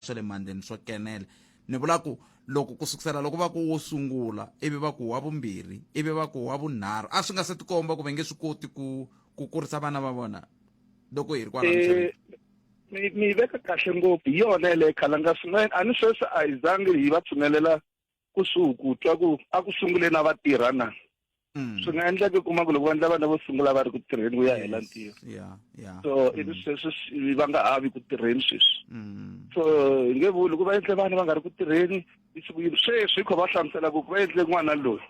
swa le mandleni swo kenela ni vula ku loko ku sukusela loko va ku wo sungula ivi va ku wa vumbirhi ivi va ku wa vunharhu a swi nga se tikomba ku va nge swi koti ku ku kurisa vana va vona loko hi ri kwala eh, mi mi veka kahle ngopfu hi yona yeleyo khalanga swin'wana a ni sweswi a hi zangi hi va tshunelela kusuhi ku twa ku a ku sungule na vatirha na Mm. swi nga endleka kuma ku loko vandla vana vo sungula va ri ku tirheni ku ya hela ntirho yeah yeah so ivi mm. sweswi swi- va nga ha vi ku tirheni sweswi mm. so hi nge vuli ku va endle vana va nga ri ku tirheni i siku yini sweswi hi kho va hlamusela ku ku va endle n'wana loyi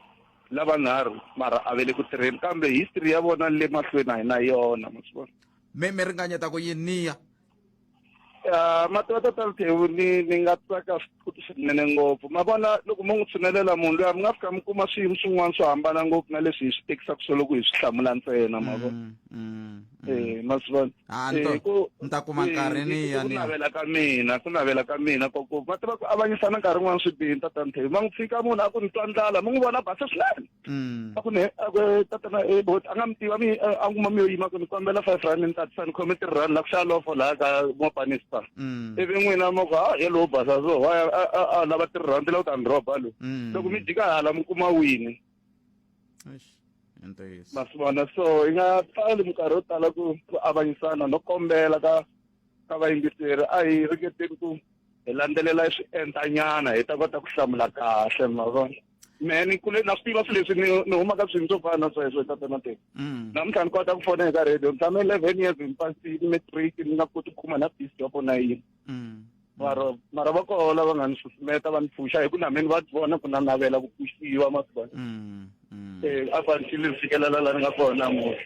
lavanharhu mara a ve le ku tirheni kambe history ya vona le mahlweni a hi na yona ma swi vona mi mi ringanyeta ku yini niya Ah, matwa tata Mtheu ni ni nga tsaka futhi swinene ngopfu ma vona loko mo n'wi tshinelela munhu loyi mi nga fika mi kuma swiyimo swin'wana swo hambana ngopfu na leswi hi swi tekisaka swo loko hi swi hlamula ntsena ma vona Mm, mm, mm. eh ma swi vona Ah, ni ta- Eh, ku- ni ta kuma eh, nkarhi ni ku ya ni ya. navela ka mina ku navela ka mina ko ku va tiva ku avanyisa na nkarhi wun'wana swi bihi tata Mtheu ma n'wi tshika munhu a ku ni twa ndlala mi n'wi vona basa swinene Mm. a ku ne a ku tatana e bot a nga mi tiva mi a n'wi kuma mi yo yima ku ni kombela five rand ni tatisa ni khome three rand la ku xava lofo laha ka mopani spa Mm. ivi n'wina mo ku ha ye lowo basa so wa ya- a- a- a lava three rand la u ta ni roba lo Mm. loko mi jika hala mi kuma wini Eish, i ntiyiso. ma swi vona so yi nga pfali minkarhi yo tala ku ku avanyisana no kombela ka ka vayingiseri a hi ringeteni ku hi landzelela swiendlanyana hi ta kota ku hlamula kahle ma vona mehe ni kule na swi tiva swi leswi ni ni humaka swilo swo fana na sweswo tata na teka mm. namuntlha ni kota ku fona eka radio ni tshame eleven years ni pasini matric ni nga koti ku khuma na bisi yoko na yini mm. mara mara va koho lava nga ni susumeta va ni pfuxa hi ku na meni va vona ku na navela ku pfuxiwa masivana um mm, a fanitile ni fikelela la ni nga kona namuntlha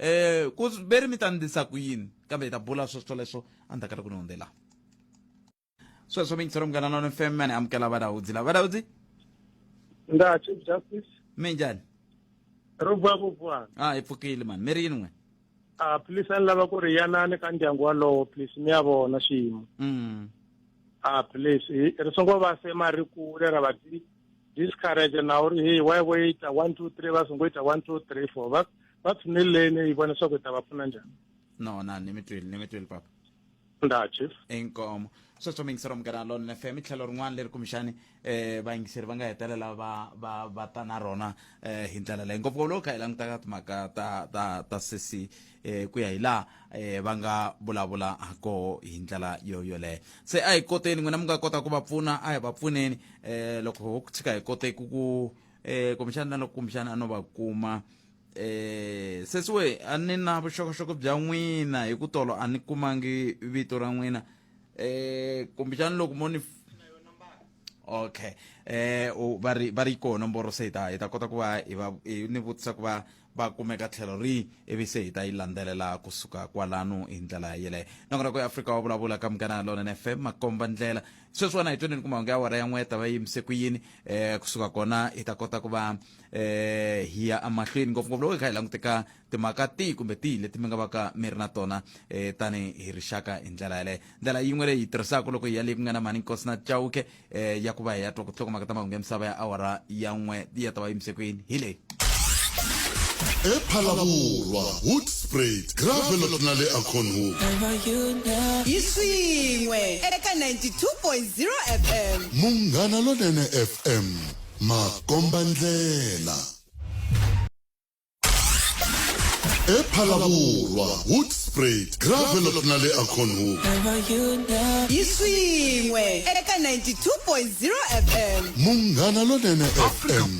um ku ve ri mi ta ndlisa ku yini kambe hi ta bula sweswo leswo a ni ta kala ku ni hundzela sweswo mingiselo munghana nona fm mane amukela vadawudzi la vadawudzi nga chief justice mi njhani ro vuya ku vuwana a hi pfukile mani mi ri yini n'we a please a ni lava ku ri yanani ka ndyangu walowo please mi ya vona xiyimo a please ri songo va se ma ri kule ra va discourage na uri hey why we ita 1 2 3 va songo ita 1 2 3 4 va va tshuneleni yi vona swa ku ta va pfuna njhani no na ni mi twile ni mi twile papa nda chief inkomo sweswo mi yingisela munghana lona fm i tlhelo rin'wana leri kumbexani um vayingiseri va nga hetelela va va va ta na rona um hi ndlela leyi ngopfungopfu loko kha hi langutaka timhaka ta ta ta sesi eh ku ya hi laha eh va nga vulavula hakoho hi ndlela yo yoleyo se a hi koteni n'wina mi nga kota ku va pfuna a hi va pfuneni eh loko ho tshika hi kote ku ku eh kumbexana na loko kumbexana a no va kuma eh sesiwe a ni na vuxokoxoko bya n'wina hi ku tolo a ni kumangi vito ra n'wina eh kumbexana loko mo ni okay eh u- va ri va ri yi koho nomboro se hi ta hi ta kota ku va hi va hi ni vutisa ku va va kumeka tlhelo rihi ivi se hi ta yi landzelela kusuka kwalano hi ndlela yeleyo nakona ku ya afrika wa vulavula ka munghana lonene fm makomba ndlela sweswiwana hi twenini kumahungu ya wara ya n'we ta va yimise ku yini um kusuka kona hi ta kota ku va um hi ya emahlweni ngopfungopfu loko hi kha hi languteka timhaka tihi kumbe tihi leti mi nga va ka mi ri na tona um tani hi rixaka hi ndlela yeleyo ndlela yin'we leyi hi tirhisaka loko hi ya leyi ku nga na mhani nkosi na chauke eh, ya ku va hi ya twa ku tlhokomaka ta mahungu ya misava ya awara ya n'we yi ya ta va yimise kwini hi leyi ephalavurwa hoodsprat gravelot na le aconhook hi swin'we eka 92.0 fm munghana lonene fm makombandlela ephalaborwa hoodsprat gravelop na le aconhol yi swin'we eka 92.0 fm munghana lonene fm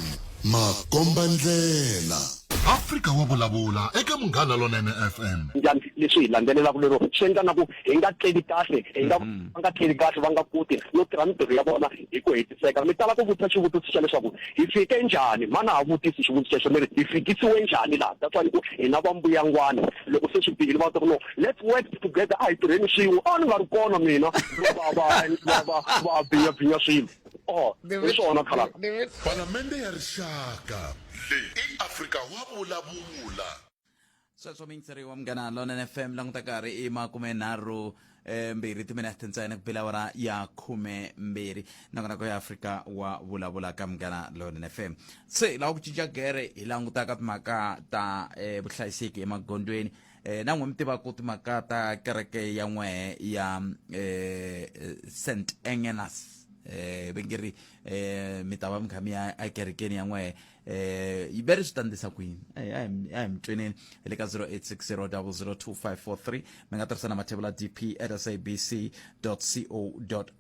makomba ndlela afrika wa vulavula eka munghana lonene fm njhani leswi hi landzelelaka lero swi endla na ku hi nga tleli kahle hi nga mm-hmm. va nga tleli kahle va nga koti no tirha mitirho ya vona hi ku hetiseka mi tala ku vutisa xivutiso xa leswaku hi fike njhani mana ha vutisi xivutiso xexo mi ri hi fikisiwe njhani laha that's why ni ku hina va mbuyangwani loko se swi bihile va ta ku no let's work together a hi tirheni swin'we a ni nga ri kona mina va va va va va binya binya swilo oh hi swona khala palamende ya rixaka leyi i afrika wa vulavula sweswo mintseri wa munghana lonene fm languta karhi i makume nharhu eh, mbirhi timinete ntsena ku bela wara ya khume mbirhi nakona ko ya afrika wa vulavula ka munghana lonene fm se lava ku cinca gere hi langutaka timhaka ta eh, vuhlayiseki emagondweni eh, na n'we mi tivaku timhaka ta kereke ya n'wehe ya eh, eh, st engenas eh, vengeri eh, mi ta va mi kha mi ya ekerekeni ya n'wehe eh yi bere swi ta ndisa kwini a hi mi tweneni hi le ka 0860002543 mi nga tirhisa na mathebula dp at sabc co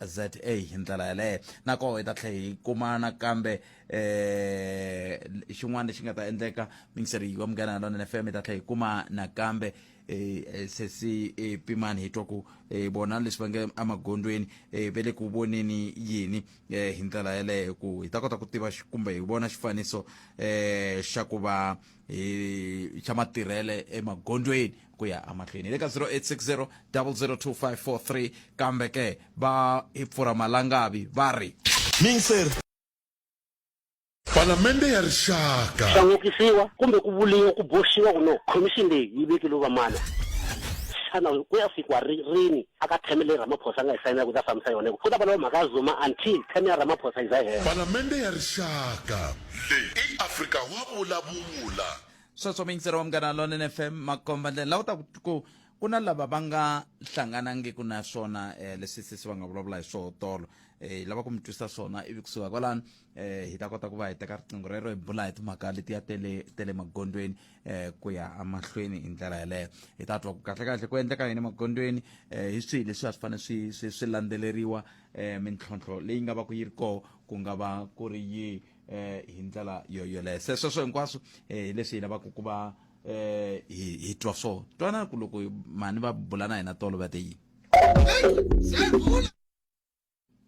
za hi ndlela yaleyo nakoho hi ta tlhe hi kumana kambe eh xin'wana lexi nga ta endleka mingiseri wa munghana lona na fm hi ta tlhe hi kuma nakambe Eh, eh, sesi eh, pimani hi twa ku bona leswi va nge emagondweni ve le ku voneni yini eh, hi ndlela yeleyo ku hi ta kota ku tiva kumbe hi vona xifaniso eh xa ku va hi xa matirhele emagondweni ku ya amahlweni hi le ka 0860 002543 kambe ke va hi pfura malangavi va ri Palamende ya Rixaka. Swa n'okisiwa kumbe ku vuriwa ku boxiwa ku no khomixini leyi yi vekile vamana. Xana ku ya fikiwa ri rini aka theme leyi Ramaphosa a nga yi sayinela ku ta fambisa yona hikuva ku ta vuriwa mhaka ya Zuma until theme ya Ramaphosa yi za yi hela. Palamende ya Rixaka. Leyi i Afrika wa vulavula. Sweswo miyingiseri wa Munghana Lonene FM makombandlela lawa ta ku ku na lava va nga hlanganangiki na swona leswi sesi va nga vulavula hi swoho tolo hi lava ku mi twisa swona ivi kusuka kwalano eh hi ta kota ku va hi teka riqingho rero hi bula hi timhaka letiya tele tele magondweni eh ku ya amahlweni hi ndlela yeleyo hi ta twa ku kahle kahle ku endleka yini magondweni eh hi swihi leswi a swi fanele swi swi swi landzeleriwa eh mintlhontlho leyi nga va ku yi ri koho ku nga va ku ri yi eh hi ndlela yo yoleyo se sweswo hinkwaswo eh hi leswi hi lavaka ku va eh hi hi twa swona twana ku loko mhani va bula na hina tolo va te yini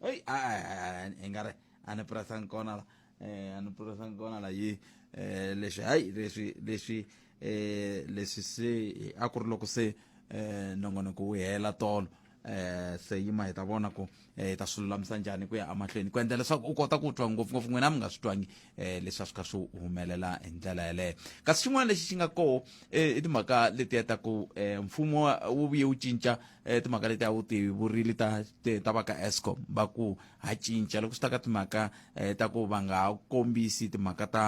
Hey, ah, eh, ingari a ni purasanga kona la eh, a ni purasanga kona la yi eh, leswi hayi leswi leswi eh, leswi se a ku ri loko se eh, nongonoko wu hela tolo eh, se yima hi ta vona ku eh, hi ta swi lulamisa njhani ku ya emahlweni ku endla leswaku u kota ku twa ngopfungopfu n'wina mi nga swi twangi eh, leswi a swi kha swi humelela hi ndlela yeleyo kasi xin'wana lexi xi nga koho eh, i timhaka letiya ta ku eh, mfumo wa- wu vuye wu cinca eh, timhaka leti a wu ti vurili ta ti- ta va ka escom va ku ha cinca loko swi ta ka timhaka eh, ta ku va nga ha kombisi timhaka ta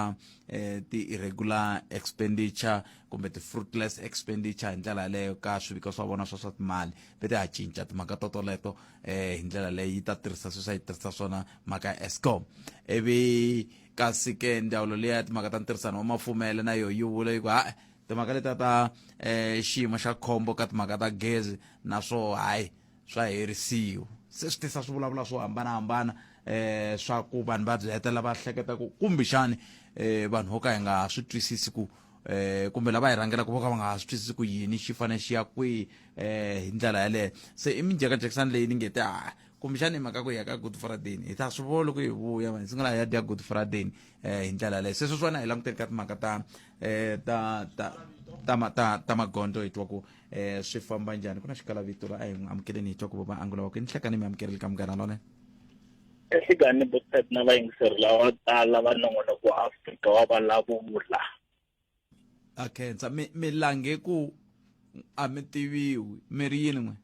eh, ti-irregular expenditure kumbe ti-fruitless expenditure hi ndlela yaleyo ka swiviko swa vona swa swa timali ve ti ha cinca timhaka totoleto eh, hi ndlela leyi yi ta tirhisa sweswi a yi tirhisa swona mhaka ya escom ivi kasi ke ndzawulo leyi ya timhaka ta ntirhisano wa mafumele na yoho yi vula yi ku ha timhaka leta ta eh xiyimo xa khombo ka timhaka ta gezi naswo hayi swa herisiwa se swi tisa swivulavula swo hambanahambana eh swa ku vanhu va byi hetelela va hleketa ku kumbexani eh vanhu vo ka hi nga swi twisisi ku eh kumbe lava hi rhangelaka vo ka va nga ha swi twisisi ku yini xi fanele xi ya kwihi eh hi ndlela yaleyo se i minjhekanjhekisani leyi ni nge te ha kumbexana i mhaka ku ya ka good friday hi ta swi vona loko hi vuya hi sungula hi ya dya good friday um hi ndlela leyo sweswo swona hi languteli ka timhaka ta um ta ta ta ta ta magondzo hi twa ku um swi famba njhani ku na xikalavito la a hi n'wi amukeleni hi twa ku vava angu lava ku ni hlekani mi amukeleli ka munghana lone ehlekani bostat na vayingiseri lava tala va nongonoko wa afrika wa valavula a khensa mi lange ku a mi tiviwi mi ri yini n'we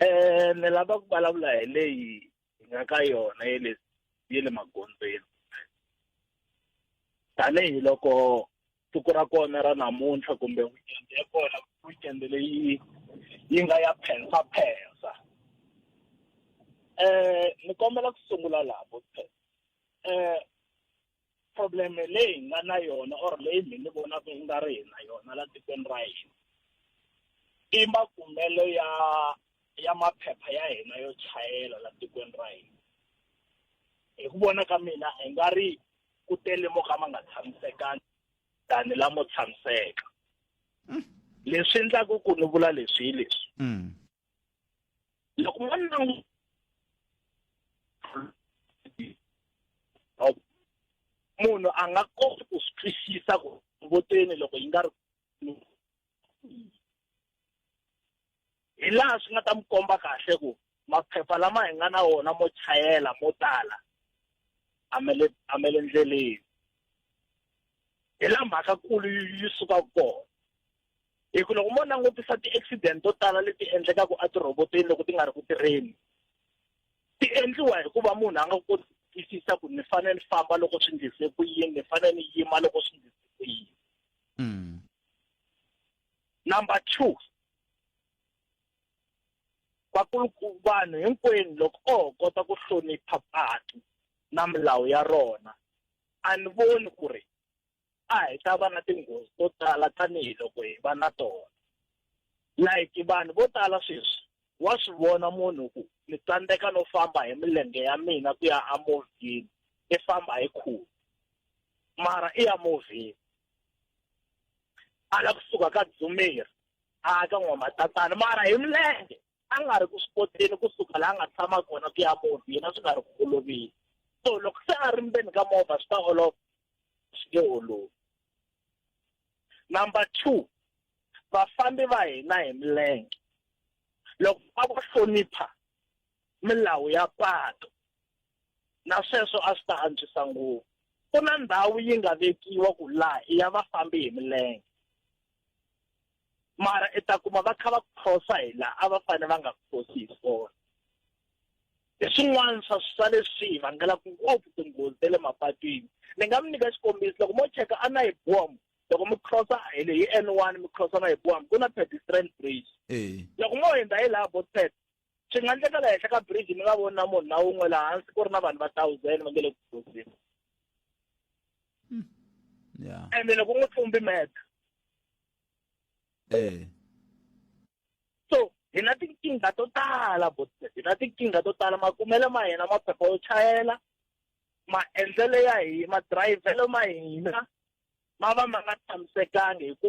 Eh ni lava ku vulavula hi leyi hi nga ka yona ye le ye le magondzweni tanihi loko siku ra kona ra namuntlha kumbe weekend ya kona weekend leyi yi nga ya phensa phensa eh ni kombela ku sungula laha eh problem leyi hi nga na yona or leyi mi ni vonaka yi nga ri hi na yona la tikweni ra hina i makumelo ya ya maphepha ya hina yo chayela la tikweni ra hina hi ku vona ka mina hi nga ri ku tele mo ka ma nga tshamisekangi tani lamo tshamiseka leswi endlaku ku ni vula leswi hi leswi mm. loko n'wana na n'wi munhu a nga koti ku swi twisisa ku voteni loko yi nga ri hi laha swi nga ta mi komba kahle ku maphepha lama hi nga na wona mo chayela mo tala a me le a me le ndleleni hi la mhaka kulu yi yi suka kona hi ku loko mo langutisa ti-accident to tala leti endlekaka etirhobotweni loko ti nga ri ku tirheni ti endliwa hikuva munhu a nga koti ku twisisa ku ni fanele ni famba loko swi ndlise ku yini ni fanele ni yima loko swi ndlise ku yini mm. number two vakuluku vanhu hinkwenu loko o ho kota ku hlonipha patu na milawu ya rona a ni voni ku ri a hi ta va na tinghozi to tala tanihiloko hi va na tona like vanhu vo tala sweswi wa swi vona munhu ku ni tsandzeka no famba hi milenge ya mina ku ya amovhini i famba hi khulu mara i ya movhini a la kusuka ka dzumeri a ka n'wamatatana mara hi milenge a nga ri ku swi koteni kusuka laha a nga tshama kona ku ya muti yena swi nga ri ku olovile so loko se a ri ndzeni ka movha swi ta olova swi nge olovi number two vafambi va hina hi milenge loko a va hlonipha milawu ya patu na sweswo a swi ta antswisa ngopfu ku na ndhawu yi nga vekiwa ku laha i ya vafambi hi milenge mara i ta kuma va kha va khosa hi laha a va fanele va nga khosi hi swona hi swin'wana swa swa leswi hi vangelaka ngopfu tinghozi ta le mapatwini ni nga mi nyika xikombiso loko mo cheka a na hi bom loko mi crossa hi le hi n one mi crossa na hi bom ku na pedestrian bridge loko mo hundza hi laha botsep swi nga endleka la henhla ka bridge mi nga voni na munhu na wun'we laha hansi ku ri na vanhu va thousand va nge le ku gozini ya ende loko u n'wi tlumbi meta eh so hi na tinkingha to tala bo hi na tinkingha to tala makumelo ma hina maphepha yo chayela maendlelo ya hina madirayivhelo ma hina ma va ma nga tshamisekangi hi ku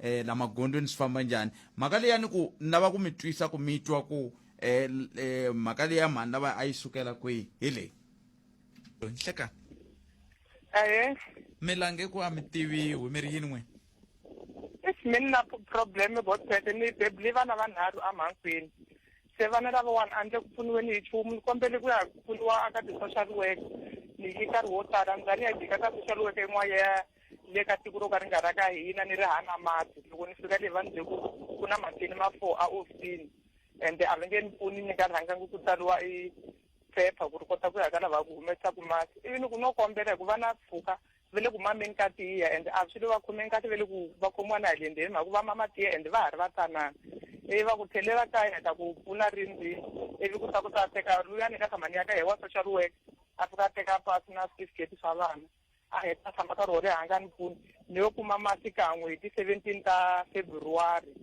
eh la magondweni swi famba njhani mhaka leya ni ku ni lava ku mi twisa ku mi twa ku eh, eh mhaka leya mhani lava a yi sukela kwihi hi leyi nhlekani aye mi lange ku a mi tiviwi mi ri yini n'wini if mi ni na problem gotsete ni bebuli vana vanharhu amhankwini se vana lavawani a ndle ku pfuniweni hi chumu ni kombele ku ya pfuniwa aka ti-social worker ni yi nkarhi wo tala ndzani ya jika ka social worker yin'wana ya le ka tiko ro ka ri nga ra ka hina ni ri hana mati loko ni fika le va ni bye ku ku na matini ma four a ofisini ende a va nge ni pfuni ni nga rhangangi ku tsariwa i phepha ku ri kota ku ya ka lava ku humesaka masi ivi ni ku no kombela hi ku va na pfuka va le ku mameni ka tiya ende a swi lo va khomeni kahle va le ku va khomiwa na hi le ndzeni mhaka ku va mama tiya ende va ha ri va tanana ivi va ku tlhelela kaya ta ku pfuna ri ndzini ivi ku ta ku ta teka luyani ka tshama ni ya ka hi wa social work a fika a teka pasi na switifiketi swa vana a hi ta tshama nkarhi wo leha a nga ni pfuni ni yo kuma masi kan'we hi ti-seventeen ta february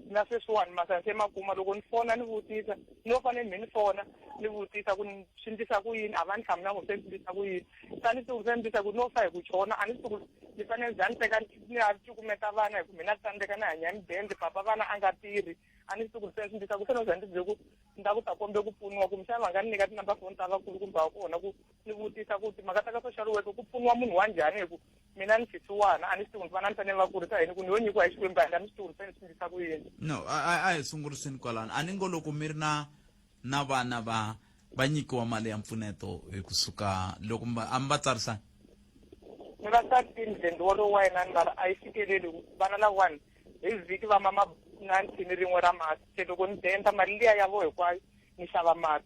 na sweswiwani masani se ma kuma loko ni fona ni vutisa ni yo fanele mi ni fona ni vutisa ku swi ndlisa ku yini a va ni hlamula ngo se ni ndlisa ku yini sa ni tsuku se ni ndlisa ku no fa hi ku chona a ni tsuku ni fanele ni za ni teka ni ya cukumeta vana hi ku mina tsandzeka ni hanya midende papa vana a nga tirhi a ni tsuku se ni ndlisa ku se no za ni tibyele ku ni ta ku ta kombe ku pfuniwa kumbexana va nga ni nyika tinumber foni ta vakulu kumbe va kona ku ni vutisa ku timhaka ta ka social worker ku pfuniwa munhu wa njhani hi ku mina ni xisiwana a ni swi tivi vana ni fanele va kurisa yini ku ni yo nyikiwa hi xikwembu a ni swi tivi fanele swi ndlisa ku yini no a hi sunguriseni kwalano a ni ngo loko mi ri na na vana va va nyikiwa mali ya mpfuneto hi kusuka loko a mi va tsarisani ni va thirteen then wolowo wa yena ni mara a yi fikeleli vana lawani hi vhiki va mama na nthini rin'we ra masi se loko ni denda mali liya ya vo hinkwayo ni xava masi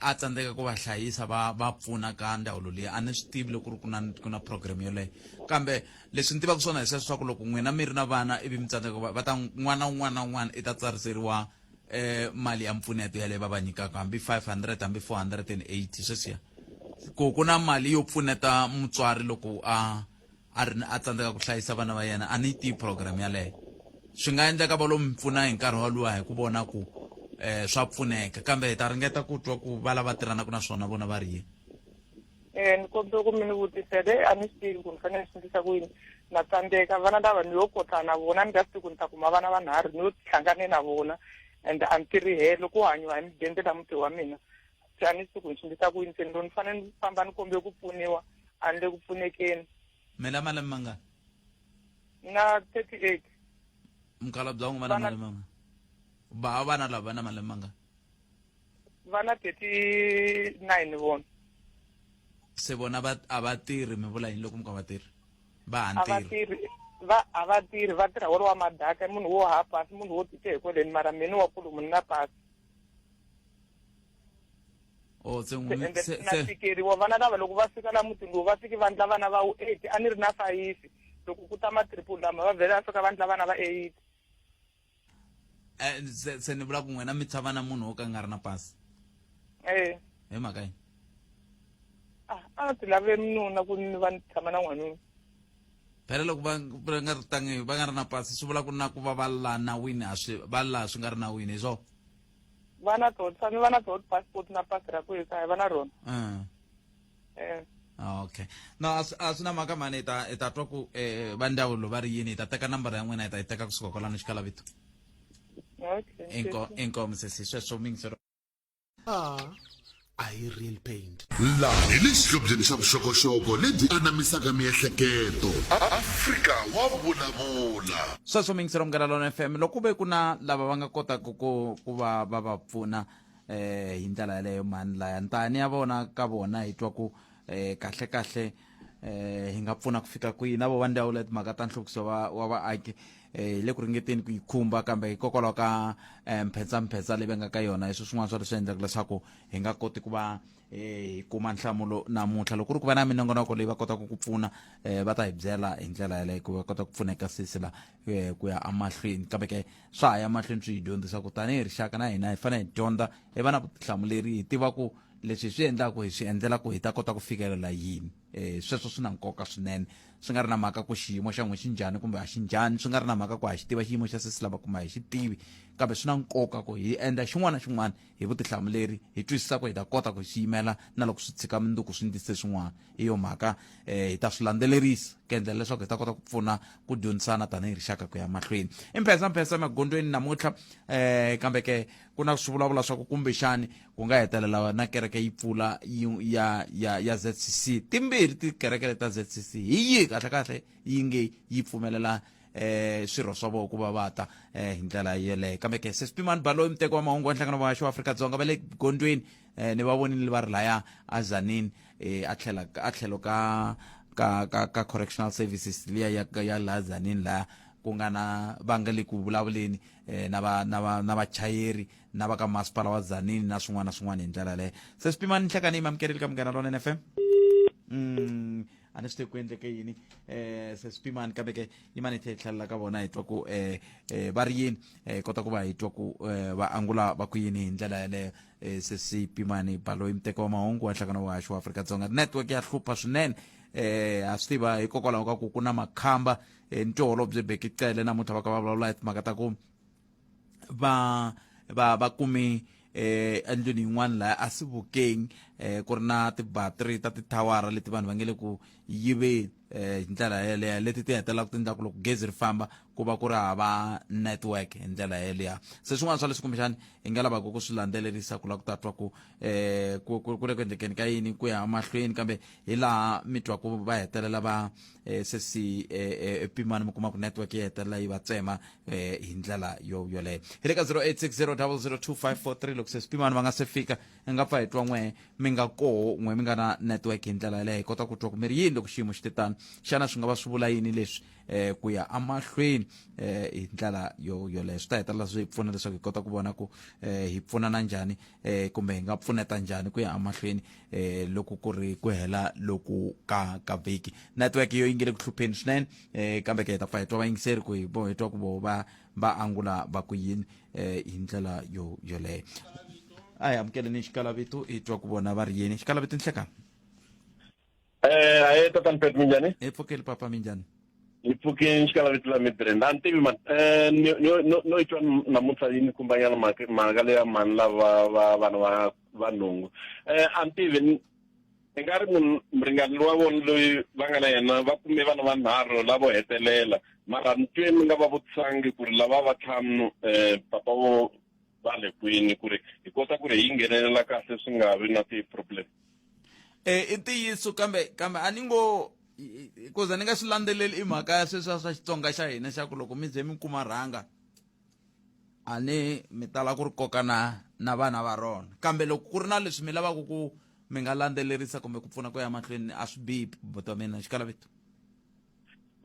a tsandzeka ku va hlayisa va va pfuna ka ndzawulo liya a ni swi tivi loko ku ri ku na ku na program yoleyo kambe leswi ni tivaka swona hi sweswo swa ku loko n'wina mi ri na vana ivi mi tsandzeka va ta n'wana un'wana na un'wana i ta tsariseriwa um mali ya mpfuneto yaleyo va va nyikaka hambi five hundred hambi four hundred and eighty sweswiya ku ku na mali yo pfuneta mutswari loko a a ri ni a tsandzeka ku hlayisa vana va yena, a ni yi tivi programme yaleyo. Swi nga endleka va lo mi pfuna hi nkarhi waluwa hi ku vona ku swa pfuneka, kambe hi ta ringeta ku twa ku va lava tirhanaka na swona vona va ri yini. Eh, ni kombela ku mi ni vutisela, eh, a ni swi tivi ku ni fanele ni swi endlisa ku yini. Na tsandzeka, vana lava ni yo kotla na vona, ni nga swi tivi ku ni ta kuma vana vanharhu ni yo hlangane na vona and a ni tirhi helo, ku hanyiwa hi mudende la muti wa mina. se a ni swi ku ni swi endlisa ku yini se ni lo ni fanele ni famba ni kombe ku pfuniwa a ni le ku pfunekeni mi la malembe mangani ni na thirty eight mukhalabye wa n'wi va na malembe mangani ba vana lava va na malembe mangani va na thirty nine vona se vona va a va tirhi mi vula yini loko mi ka va tirhi va ha ntirhi va a va tirhi va tirha wolowa madaka munhu wo ha pasi munhu wo tite hi kweleni mara mini wa kulu munhu na pasi o se n'wi ende se na se tikeriwa vana lava loko va fika la mutini lowu va fiki vandla vana va wu eight a ni ri na fayifi loko ku ta matriple lama va vhela va fika vandla vana va eight eh, se se ni vula ku n'wina mi tshava na munhu wo ka a nga ri na pasi e hi mhaka yini a a nga ti lavile minuna ku ni va ni tshama na n'wanuna phela loko va va nga ri tangi va nga ri na pasi swi vula ku na ku va va la nawini a swi va la swi nga ri nawini hi swona va na tona sami va na tona passport na pasi ra ku ekaya va na rona ah. eh. ah, okay no a swi na mhaka mhani hi ta hi ta twa ku um va ndzawulo va ri yini hi ta teka nambara ya n'wina hi ta yi teka kusuka kwalano xikalavito okay inkomu sesi sweswo mingisero ah. a hi real paint. Laha hi le xihlobyeni xa vuxokoxoko lebyi anamisaka miehleketo. Afrika wa vulavula. Sweswo mi yingisela Munghana Lona FM loko ku ve ku na lava va nga kotaka ku ku va va va pfuna eh hi ndlela yaleyo mani laya ntani ya vona ka vona hi twa ku eh kahle kahle eh hi nga pfuna ku fika kwihi na vo va ndhawu leyi timhaka ta nhluvukiso wa wa vaaki eh hi le ku ringeteni ku yi khumba kambe hikokwalaho ka eh, mphetsamphetsa leyi va nga ka yona leswi swin'wana swa leswi endlaka leswaku hi nga koti ku va eh, hi kuma nhlamulo namuntlha loko ku ri ku va na minongonoko leyi va kotaka ku pfuna eh, va ta hi byela hi ndlela yaleyo ku va kota ku pfuneka sisi la eh, ku ya amahlweni kambe ke swa ha ya mahlweni swi hi dyondzisa ku tanihi rixaka na hina hi fanele hi dyondza hi va na vutihlamuleri hi tiva ku leswi hi swi endlaku hi swi endzela ku hi ta kota ku fikelela yini um sweswo swi na nkoka swinene swi nga ri na mhaka ku xiyimo xa n'we xi njhani kumbe a xi njhani swi nga ri na mhaka ku ha xi tiva xiyimo xa sesi lava kuma hi xi tivi kambe swi na nkoka ku hi endla xin'wana na xin'wana hi vutihlamuleri hi twisisa ku hi ta kota ku hi swi yimela na loko swi tshika minduku swi ndise swin'wana hi yo mhaka um hi ta swi landzelerisa ku endlela leswaku hi ta kota ku pfuna ku dyondzisana tanihi rixaka ku ya mahlweni i mphesa mphesa emagondweni namuntlha um kambe ke ku na swivulavula swa ku kumbexani ku nga hetelela na kereke yi pfula ya ya ya ZCC timbirhi tikereke leti ta ZCC hi yihi kahle kahle yi nge yi pfumelela eh swirho swa vona ku va va ta eh hi ndlela yeleyo kambe ke sespimani baloyi muteki wa mahungu wa nhlangano wa wa afrika-dzonga va le gondweni eh ni va vonile va ri laya a zanini eh a tlhela a tlhelo ka ka ka ka correctional services liya ya ya la zanini laya ku nga na va nga le ku vulavuleni eh na va na va na vachayeri na va ka masipala wa zanini na swin'wana na swin'wana hi ndlela yaleyo se swi pimani nhlekani yi mamukerile ka munghana lona nfm mm. a ni swi te ku endleke yini um se swi pimani kambe ke yi mani tlhe hi tlhelela ka vona hi twa ku um um va ri yini um kota ku va hi twa ku um va angula va ku yini hi ndlela yaleyo um se si pimani baloyi muteko wa mahungu wa nhlangano wa vuhaxi wa afrika dzonga network ya hlupha swinene eh ha swi tiva hikokwalaho ka ku ku na makhamba eh, ni tiholobye bekicele namuntlha va ka va vulavula hi timhaka ta ku va va va kume eh endlwini yin'wana laha a sivukeng eh ku ri na tibattery ta tithawara leti vanhu va nge le ku yiveni eh hi ndlela yeleyo leti ti hetelelaka ti endla ku loko gezi ri famba ku va ku ri hava network hi ndlela yeleyo se swin'wana swa leswi kumbexani hi nga lavaka ku swi landzelerisa ku lava ku ta twa ku eh ku ku ku le ku endlekeni ka yini ku ya mahlweni kambe hi laha mi twa ku va hetelela va eh se si eh, eh, pimani mi kuma ku network yi hetelela yi va tsema eh hi ndlela yo yoleyo hi le ka 0860002543 loko se swipimani va nga se fika hi nga pfa hi twa n'we mi nga koho n'we mi nga na network hi ndlela yaleyo hi kota ku twa ku mi ri yini loko xiyimo xi te tano xana swi nga va swi vula yini leswi eh ku ya amahlweni eh hi ndlela yo yoleyo swi ta hetelela swi hi pfuna leswaku hi kota ku vona ku eh hi pfunana njhani eh kumbe hi nga pfuneta njhani ku ya amahlweni eh loko ku ri ku hela loku ka ka vhiki network yo yi nge le ku hlupheni swinene eh, kambe ke hi ta pfa hi twa vayingiseri ku hi bo hi twa ku vo va va angula va ku yini eh, hi ndlela yo yoleyo a hi amukeleni xikalavito hi twa ku vona va ri yini xikalavito nhlekani Eh, haye tatani Pet minjhani? hi pfukeli papa minjhani Hi pfuke nxikalavito la Midrand. A ni tivi man. Eh, ni no no no itwa namuntlha yini kumbanyana mhaka mhaka leya mhani lava va vana va va nhungu. Eh, a ni tivi ni- Ni nga ri munhu muringani wa vona loyi va nga na yena va kume vana vanharhu lavo hetelela mara ni twe ni nga va vutisangi ku ri lava va tlhanu um eh, papa vo va le kwini ku ri hi kota ku ri hi nghenelela kahle swi nga vi na ti-problem um i ntiyiso kambe kambe a ni ngo hikuza ni nga swi landzeleli i mhaka ya sweswiya swa xitsonga xa hina xa ku loko mi ze mi kuma rhanga a ni mi tala ku ri kokana na vana va rona kambe loko ku ri na leswi mi lavaka ku mi nga landzelerisa kumbe ku pfuna ku ya mahlweni a swi bihi bota mina xikalavito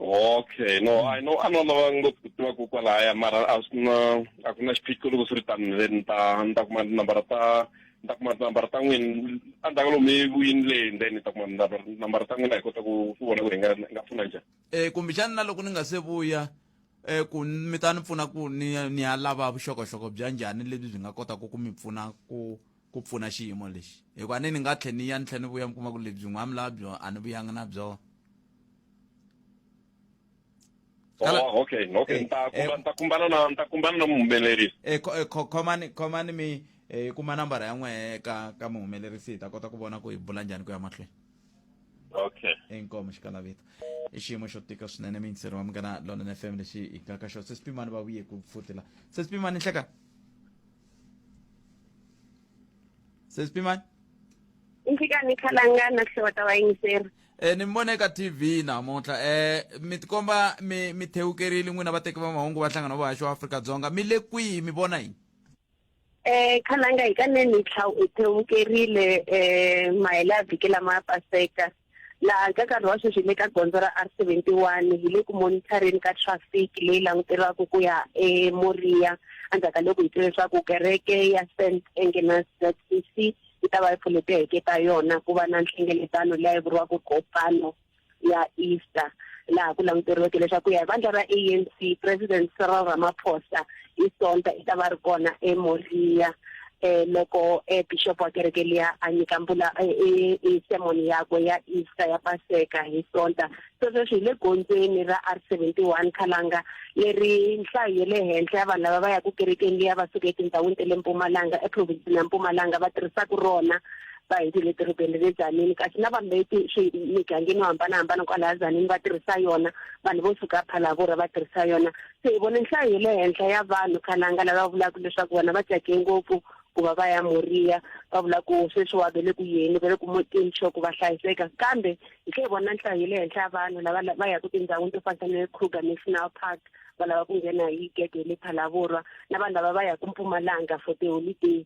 okay no mm. i know a no lava ngopfu ku tiva ku kwalaya mara a swi na a ku na xiphiqo loko swi ri tani le ni ta ni ta kuma tinambara ta ni ta kuma tinambara ta n'wini a ndzaka lomu evuyini le then ni ta kuma tinambara ta n'wina hi kota ku ku vona ku hi nga nga pfuna njhani um kumbexani na loko ni nga se vuya um ku mi ta ni pfuna ku ni ni ya lava vuxokoxoko bya njhani lebyi byi nga kotaka ku mi pfuna ku ku pfuna xiyimo lexi hikuva ni ni nga tlhe ni ya ni tlhe ni vuya mi kuma ku lebyi n'wa mi lava byona a ni vuyanga na byona Oh, okay okay eh, nta eh, nta kumbana na nta kumbana na muhumelerisi eh, eh khomani khomani mi eh kuma nambara ya n'we ka ka muhumelerisi hi ta kota ku vona ku hi bula njhani ku ya mahlweni okay inkomo xikala vito i xiyimo xo tika swinene mintsiri wa mugana lonene fm lexi hi nga ka xona se swipimani va vuye ku futila se swipimani nhleka se swipimani nhlikani khalangana hlowa ta vayingiseri e ni mi vona eka tv namuntlha um mi tikomba mi mi thewukerile n'wina vateki va mahungu va nhlangano wa vahaxi wa afrika dzonga mi le kwihi mi vona yini Eh khalanga hi ka nene tlha u thewukerile eh mahela vhiki lama ya paseka laha ka nkarhi wa sweswi le ka gondzo ra R71 hi le ku monitoreni ka traffic leyi languteriwaka ku ya eMoria endzhaku ka loko hi twe leswaku kereke ya St Agnes ZCC yi ta va yi pfulete heke ta yona ku va na nhlengeletano leyi vuriwaka Kopano ya Easter laha ku languteriweke leswaku ya vandla ra ANC President Cyril Ramaphosa hi sonta i ta va ri kona eMoria eh loko eh bishop wa kereke liya a nyika mbula e eh, eh, eh, sermon yakwe ya Easter ya Paseka hi sonta sweswo swi le gondzweni ra R71 Khalanga leri nhlayo ya le henhla ya vanhu lava va ya ku kerekeni liya va suka etindhawini ta le Mpumalanga eprovince ya Mpumalanga va tirhisaka rona va hi ti le dorobeni le Tzaneen kasi na vanhu leti swi migangeni yo hambanahambana kwalaha Tzaneen va tirhisa yona vanhu vo suka Phalaborwa va tirhisa yona se hi vone nhlayo ye le henhla ya vanhu khalanga lava vulaka leswaku vona va tsake ngopfu ku va va ya Moriya va vula ku sweswiwa ve le ku yeni ve le ku mutini sure ku va hlayiseka kambe hi tlhe hi vona nhlayo ye le henhla ya vanhu lava va yaku tindhawini to fanisa ne Kruger National Park va lava ku nghena hi gede le Phalaborwa na vanhu lava va yaku Mpumalanga for tiholiday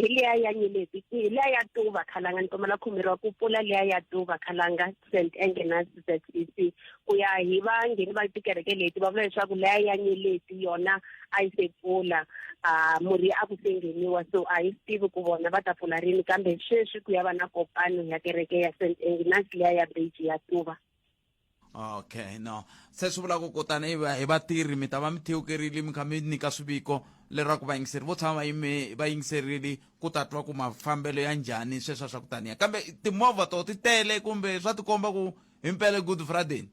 hi liya ya nyeleti hi liya ya tuva khalanga ni kombela khumeriwa ku pfula liya ya tuva khalanga st angena zec ku ya hi vangheni va tikereke leti va vula leswaku liya ya nyeleti yona a yi se pfula um murhi a ku se ngheniwa so a yi swi tivi ku vona va ta pfula rini kambe sweswi ku ya va na kopano ya kereke ya st angnas liya ya beji ya tuva okay no se swi vulaka kutani hi vatirhi mi ta va mi thewukerile mi kha mi nyika swiviko leraku vayingiseri vo tshama va yingiserile ku ta twa ku mafambelo ya njhani sweswa swa ku taniya kambe timovha to ti tele kumbe swa tikomba ku himpela good friday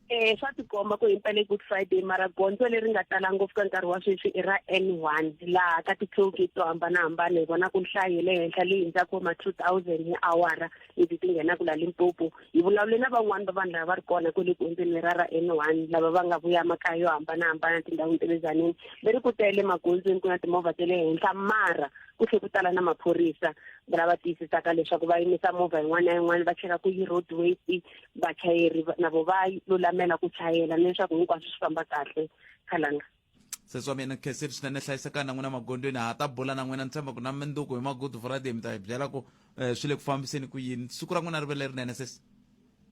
eh swa tikomba ku himpela good friday mara gondzo leri nga tala ngopfu ka nkarhi wa sweswi i ra n one laha ka ti-tollgate to hambanahambana hi vona ku nhlayo le henhla leyi hundzaka ma two thousand hi awara ivi ti nghena ku la limpopo hi vulavule na van'wani va vanhu lava va ri kona kwele gondzweni lera ra n one lava va nga vuya makaya yo hambanahambana tindhawini ta le zaneni va ri ku tele magondzweni ku na timovha ta le henhla mara ku tlhe ku tala na maphorisa lava tiyisisaka leswaku va yimisa movha yin'wana na yin'wana va cheka ku yi road waste vachayeri navo va lulamela ku chayela leswaku hinkwaswo swi famba kahle khalanga sesi wa mina kheseri swinene hlayisekani na n'wina magondweni ha ta bula na n'wina ni tshemba ku na minduku hi magood friday mi ta hi byela ku um swi le ku fambiseni ku yini siku ra n'wina ri ve lerinene sesi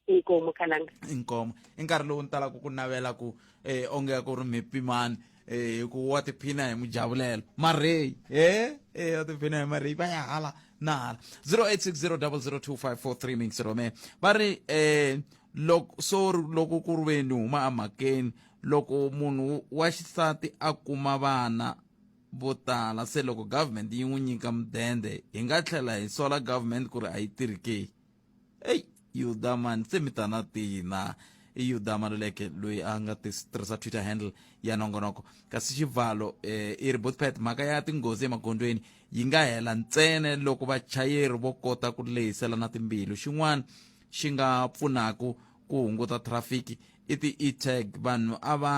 inkomo khalanga inkomo i nkarhi lowu ni talaka ku navela ku eh onge ku ri mi pimani eh ku wa tiphina hi mujavulelo marheyi eh eh wa tiphina hi marheyi va ya hala na hala 0860002543 mixi rome va ri eh loko so loko ku ri veni huma emhakeni loko munhu wa xisati a kuma vana vo tala se loko government yi n'wi nyika mudende hi nga tlhela hi sola government ku ri a yi tirhi ke eyi yudamani se mi ta na tina i yuda maluleke loyi a nga tirhisa twitter handle ya nongonoko kasi xivalo eh, i ri botpet mhaka ya tinghozi emagondzweni yi nga hela ntsena loko vachayeri vo kota ku lehiselana timbilu xin'wana xi nga pfunaka ku hunguta traffic i ti-e-tag vanhu a va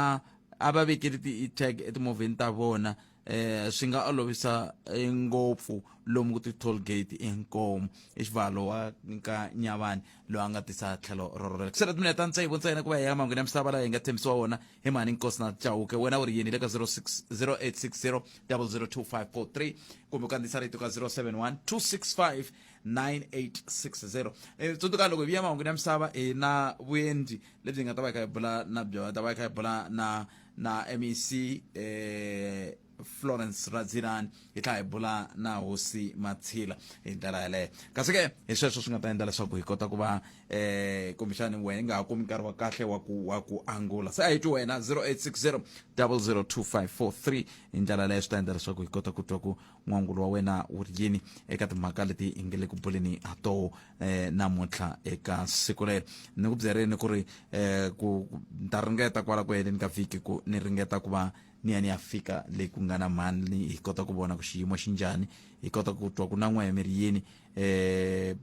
a va vekeli ti-e-tag etimovheni ta vona eh swi nga olovisa eh, ngopfu lomu ku ti-toll gate enkomo i xivalo wa ka nyavani loyi a nga tisa tlhelo rorolera ku sele timinete ta ntsevu ntsena ku va ya mangwini ya misava layi hi nga tshembisiwa wona hi mhani nkosi na chauke wena u ri yini le ka 06 0860 002 543 kumbe u kandziyisa rito ka 071 265 9860 e tsundzuka loko hi vuya mahungwini ya misava hi na vuendi lebyi nga ta va hi kha hi bula na byona ta va hi kha hi bula na na mec eh florence radzilani hi tlha hi bula na hosi matshila hi ndlela yaleyo kasi ke hi sweswo swi nga ta endla leswaku hi kota ku va eh kumbexani wena nga ha kumi nkarhi wa kahle wa ku wa ku angula se a hi twi wena 0860 002543 hi ndlela yaleyo swi ta endla leswaku hi kota ku twa ku n'wangulo wa wena wu ri yini eka timhaka leti hi nge le ku buleni ha toho um eh, namuntlha eka siku rero ni ku byerini ku ri um ku ni ta ringeta kwala ku heleni ka vhiki ku ni ringeta ku va ni ya ni ya fika leyi ku nga na mhani hi kota ku vona ku xiyimo xi njhani hi kota ku twa ku na n'wayamiri yini um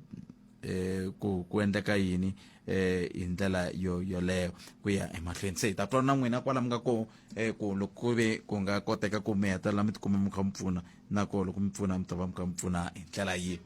eh ku ku endleka yini eh hi ndlela yo yoleyo ku ya emahlweni se hi ta twa na n'wina kwala mi nga ko eh ku loko ku ve ku nga koteka ku mi hetelela mi tikuma mi kha mi pfuna na ko loko mi pfuna mi ta va mi kha mi pfuna hi ndlela yihi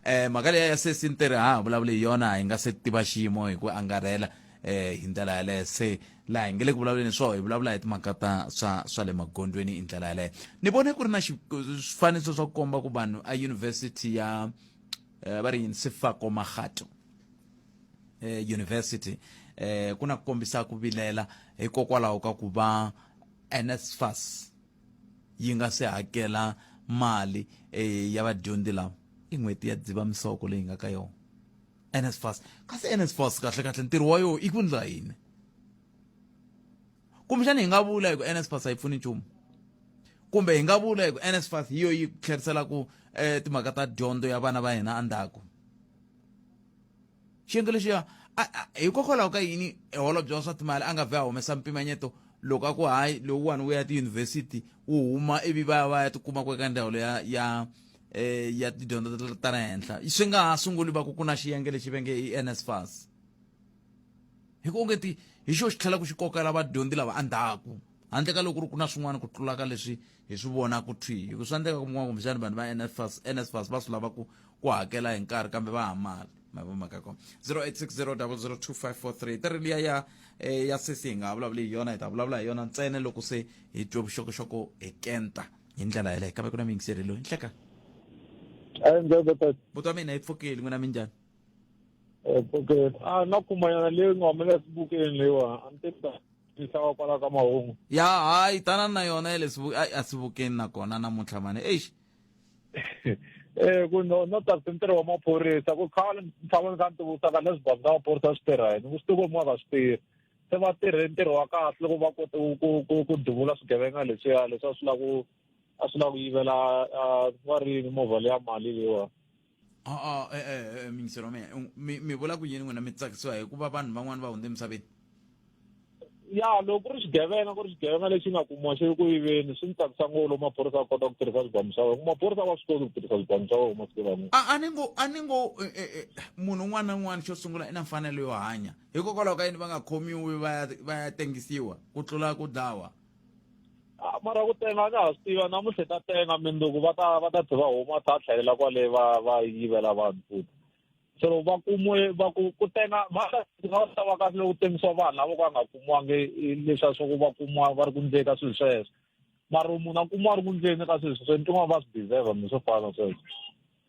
eh mhaka leya ya sesi ni te ri ha vulavuli hi yona hi nga se tiva xiyimo hi ku angarhela eh hi ndlela yaleyo se laha hi nge le ku vulavuleni swo hi vulavula hi timhaka ta swa swa le magondweni hi ndlela yaleyo ni vone ku ri na swifaniso swa ku komba ku vanhu a university ya eh, va ri yini sifako magato eh, university eh, ku na ku kombisa ku vilela hikokwalaho ka ku va nsfas yi nga se hakela mali eh, ya vadyondzi lava i n'hweti ya dzivamisoko leyi nga ka yona NSFAS kasi NSFAS kahle kahle ntirho wa yona i ku ndla yini kumbexana hi nga vula hi ku NSFAS a yi pfuni nchumu kumbe hi nga vula hi ku NSFAS hi yo yi tlheriselaku eh, timhaka ta dyondzo ya vana va hina endzhaku xiyenge lexiya hikokwalaho ka yini eholobye wa swa timali a nga vhe a humesa mpimanyeto loko a ku hayi lowuwani wu ya tiyunivhesiti wu huma ivi va ya va ya tikuma ku eka ndhawu ya ya eh, ya tidyondzo ta- ta le henhla swi nga ha sunguli va ku ku na xiyenge lexi ve nge i nsfas hi ku onge ti hi xo xi tlhela ku xi kokela vadyondzi lava endzhaku handle ka loko ri ku na swin'wana ku tlula ka leswi hi swi vona ku thwi hi ku swa endleka ku mun'wana kumbexani vanhu va nsfas nsfas va swi lava ku ku hakela hi nkarhi kambe va hamala mavomaka kona 0860002543 ta ri liya ya eh, ya sesi hi nga ha vulavuli hi yona hi ta vulavula hi yona ntsena loko se hi twe vuxokoxoko hi kenta hi ndlela yeleyo kambe ku na miyingiseri loyi nhleka buti wa mina yi pfukeli n'wina minjhani pfukeli a na kumanyana leyi nga humela esibukeni leyiwa a ni tisa xava kwala ka mahungu ya hayi tanani na yona ya le a sivukeni nakona namuntlha mani eish eh ku no no ta ntirho wa maphorisa ku khale ni tshama ni kha ni tivutisa ka leswi bazi ka maphorisa swi tirha yini ku swi tivi ku mwa ka swi tirhi se va tirhe ntirho wa kahle loko va kote ku ku ku duvula swigevenga leswiya leswi a swi la ku a swi la ku yivela va ri movha leya mali leyiwa a-a e-e eh, eh, eh, mingiselo meya mi mi vula ku yini n'wina mi tsakisiwa hikuva vanhu van'wani va hundze emisaveni ya loko ku ri xigevenga ku ri xigevenga lexi nga kumiwa xi ri ku yiveni swi ni tsakisa ngopfu loko maphorisa a kota ku tirhisa swibamu swa wena maphorisa va swi koti ku tirhisa swibamu swa wena masiku lama a ni ngo a ni ngo munhu un'wana na un'wana xo sungula i na mfanelo yo hanya hikokwalaho ka yini va nga khomiwi va ya va ya tengisiwa ku tlula ku dlawa Ah, mara ku tenga ka ha swi tiva namuntlha ta tenga mindzuku va ta va ta tlhe va huma ta tlhelela kwale va va yivela vanhu futhi se loko va kumiwe va ku ku tenga va ta va ta va kahle loko ku tengisiwa vanhu lavo ka nga kumiwangi i- leswiya swa ku va kumiwa va ri ku ndzeni ka swilo sweswo mara munhu a kumiwa a ri ku ndzeni ka swilo sweswo ni tin'wana va swi deserve mi swo fana sweswo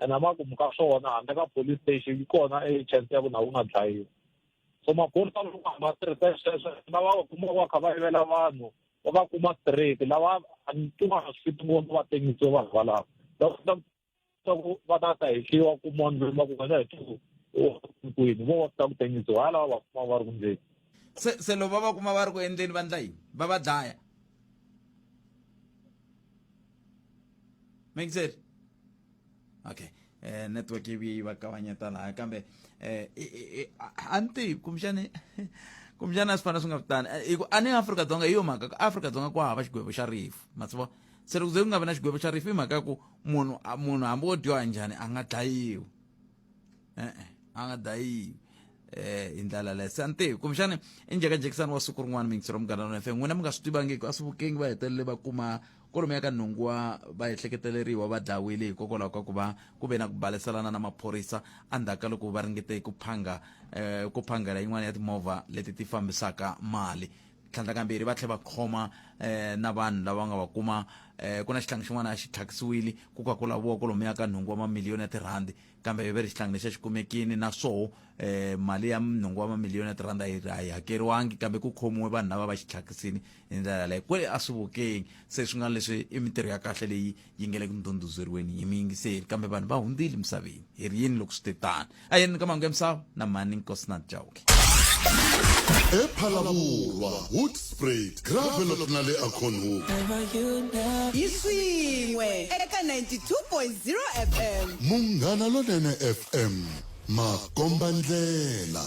ene emakumu ka swona handle ka police station yi kona e chance ya ku na wu nga dlayiwi so maphorisa loko va hamba tirhisa sweswo lava va kumaka va kha va yivela vanhu va va kuma straight lava tin'wana swi fiti ngopfu va tengisiwe vanhu valava loko ta ta ku va ta ta hehliwa ku mondzeni va ku wena hi tiku kwini vo va ta ku tengisiwa ha lava va kuma va ri kundzeni se se loko va va kuma va ri ku endleni va ndla yini va va dlaya make sense okay eh network yi yi va kavanyeta laha kambe eh a ni tivi kumbexani kumbexani a swi fana swi nga vitani eh, hi ku a ni afrika dzonga hi yo mhaka ka afrika dzonga ku hava xigwevo xa rifu ma swi vona se loko ze ku nga vi na xigwevo xa rifu hi mhaka ya ku munhu munhu hambi wo dyoha njhani a nga dlayiwi e-e a nga dayi eh hi ndlala leyo se a ni tivi kumbexani i njhekanjhekisani wa siku rin'wana mingitsi ra munghana wa fm n'wina mi nga swi tivangiki a swi vukengi va hetelele va kuma kolomi ya ka nhungu wa va ehleketeleriwa va dlayiwile hikokwalaho ka ku va ku ve na ku baleselana na maphorisa endzhaku ka loko va ringete ku phanga um ku phangela yin'wana ya timovha leti ti fambisaka mali tlhandlakambirhi va tlhe va khoma um na vanhu lava nga va kuma um ku na xihlangi xin'wana a xi thyakisiwile ku ka ku laviwa kolomo ya ka nhungu wa mamiliyoni ya tirhandi kambe ve ri xihlangi lexi a xi kumekini na swoho um mali ya nhungu wa mamiliyoni ya tirhandi a yi a yi hakeriwangi kambe ku khomiwe vanhu lava va xi thyakisini hi ndlela yaleyo kwele a swi vukeni se swi nga leswi i mintirho ya kahle leyi yi nge le ku ndhundhuzeriweni hi muyingiseri kambe vanhu va hundzile misaveni hi ri yini loko swi te tani a yeni ka mahungu ya misava na mhani nkosinath jawuke ephalavurwa hoodsprat gravelot na le aconhook hi swin'we eka 92.0 fm munghana lonene fm makombandlela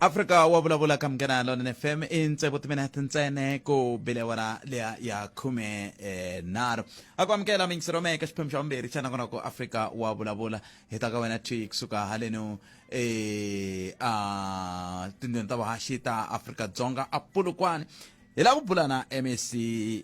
afrika wa vulavula ka munghana lona fm i ntsevu timinete ntsene ku bile wara leya ya khume eh, nharhu a ku amukela mingisero mehe ka xiphemu xa vumbirhi xa nakonako afrika wa vulavula hi ta ka wena twi kusuka haleno eh, a tindlwini ta vuhaxi ta afrika dzonga a pulukwane hi lava ku bula na mec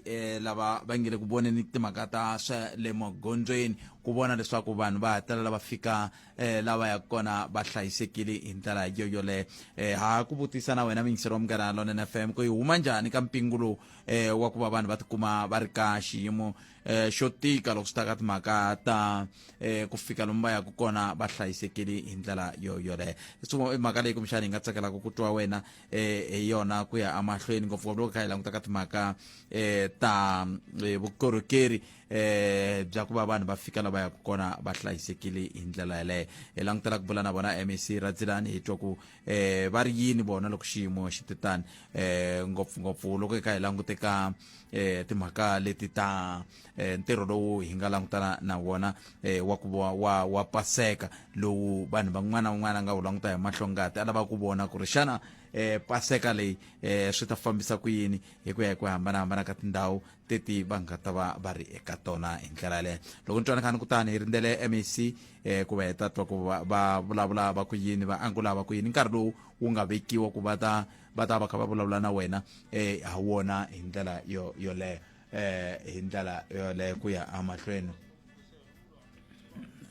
eh, lava va nge le ku voneni timhaka ta swa le magondzweni ku vona leswaku vanhu va hetelela va fika eh lava ya kona va hlayisekile hi ndlela yo yoleyo eh ha ku vutisa na wena mingisero wa munghana lonene fm ku yi huma njhani ka mpingu lowu eh wa ku va vanhu va tikuma va ri ka xiyimo eh xo tika loko swi ta ka timhaka ta eh ku fika lomu va yaka kona va hlayisekile hi ndlela yo yoleyo so i mhaka leyi kumbexana hi nga tsakelaka ku twa wena eh hi yona ku ya amahlweni ngopfungopfu loko kha hi languta ka timhaka eh ta eh, vukorhokeri eh bya ku va vanhu va fika la va yaka kona va hlayisekile hi ndlela yeleyo hi langutela ku bula na vona mec radzilani hi twa ku eh va ri yini vona loko xiyimo xi te tani eh ngopfungopfu loko hi kha hi langute ka eh timhaka leti ta eh, ntirho lowu hi nga langutana na wona eh wa ku wa wa, wa paseka lowu vanhu van'wana van'wana nga wu languta hi mahlongati a lava ku vona ku ri xana eh paseka leyi eh swi ta fambisa ku yini hi ku ya hi ku hambanahambana ka tindhawu teti va nga ta va va ri eka tona hi ndlela yaleyo loko ni twanakani kutani hi rindzele mec um eh, ku va heta twa ku va vulavula va ku yini va angula va ku yini nkarhi lowu wu nga vekiwa ku va ta va ta va kha va vulavula na wena um ha wona hi ndlela yo yoleyo um eh, hi ndlela yoleyo ku ya emahlweni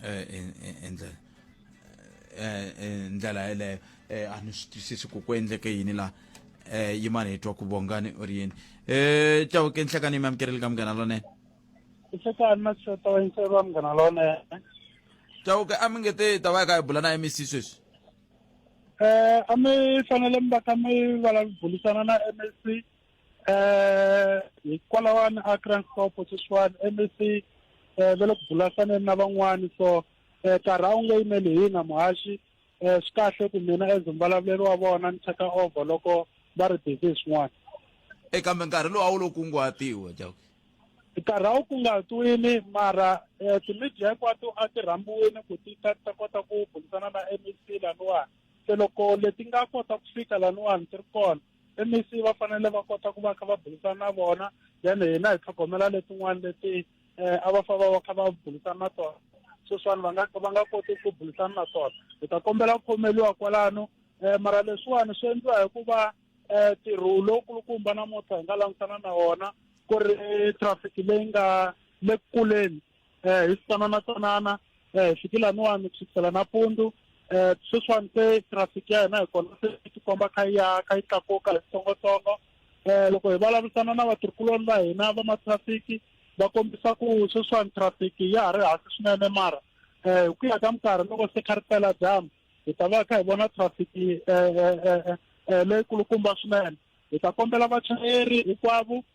eh, in- in- in ndlela eh, eh, ndlela yeleyo eh, a ni swi twisisi ku ku endleke yini laha eh, yimani hi twa ku vongani u ri yini eh, tawuke nhlekani mi amukerile ka munghana lonene nhlekani na xota wa yintsero wa munghana lonene tawuke a mi nge te ta va yi kha hi bula na mec sweswi um a mi fanele mi va kha mi vulavurisana na m s c eh hikwalawani a Kranskop sweswiwani MEC eh ve le ku bulasaneni na van'wani so eh karhi a wu nge yimeli hina muhaxi eh swi kahle ku mina as mvulavuleli wa vona ni cheka over loko va ri busy hi swin'wana e kambe nkarhi lowu a wu lo kunguhatiwa jaku nkarhi a wu kunguhatiwile mara um ti-media hinkwato a ti rhambiwile ku ti ta ta kota ku bulisana na MEC laniwani se loko leti nga kota ku fika laniwani ti ri kona mec va fanele va kota ku va kha va burisana na vona then hina hi tlhogomela letin'wana leti um a va fa va va kha va burisana na tona sweswiwani va nga va nga koti ku burisana na tona hi ta kombela ku khomeliwa kwalano um mara leswiwani swi endliwa hi ku va um ntirho lowukulukumba namuntlha hi nga langutana na wona ku ri traffic leyi nga le kuleni eh, hi tsanana tsanana eh, hi fikile laniwani ku sukisela nampundzu um eh, sweswiwani se traffic ya hina hi kona se yi tikomba kha yi ya kha yi tlakuka hi switsongotsongo um loko hi vulavurisana na vatirhikuloni va hina va matrafiki va kombisa ku sweswiwani traffic ya ha ri hansi swinene mara um hi ku ya ka minkarhi loko se kha ri pela dyambu hi ta va kha hi vona traffic um leyikulukumba swinene hi ta kombela vachayeri hinkwavo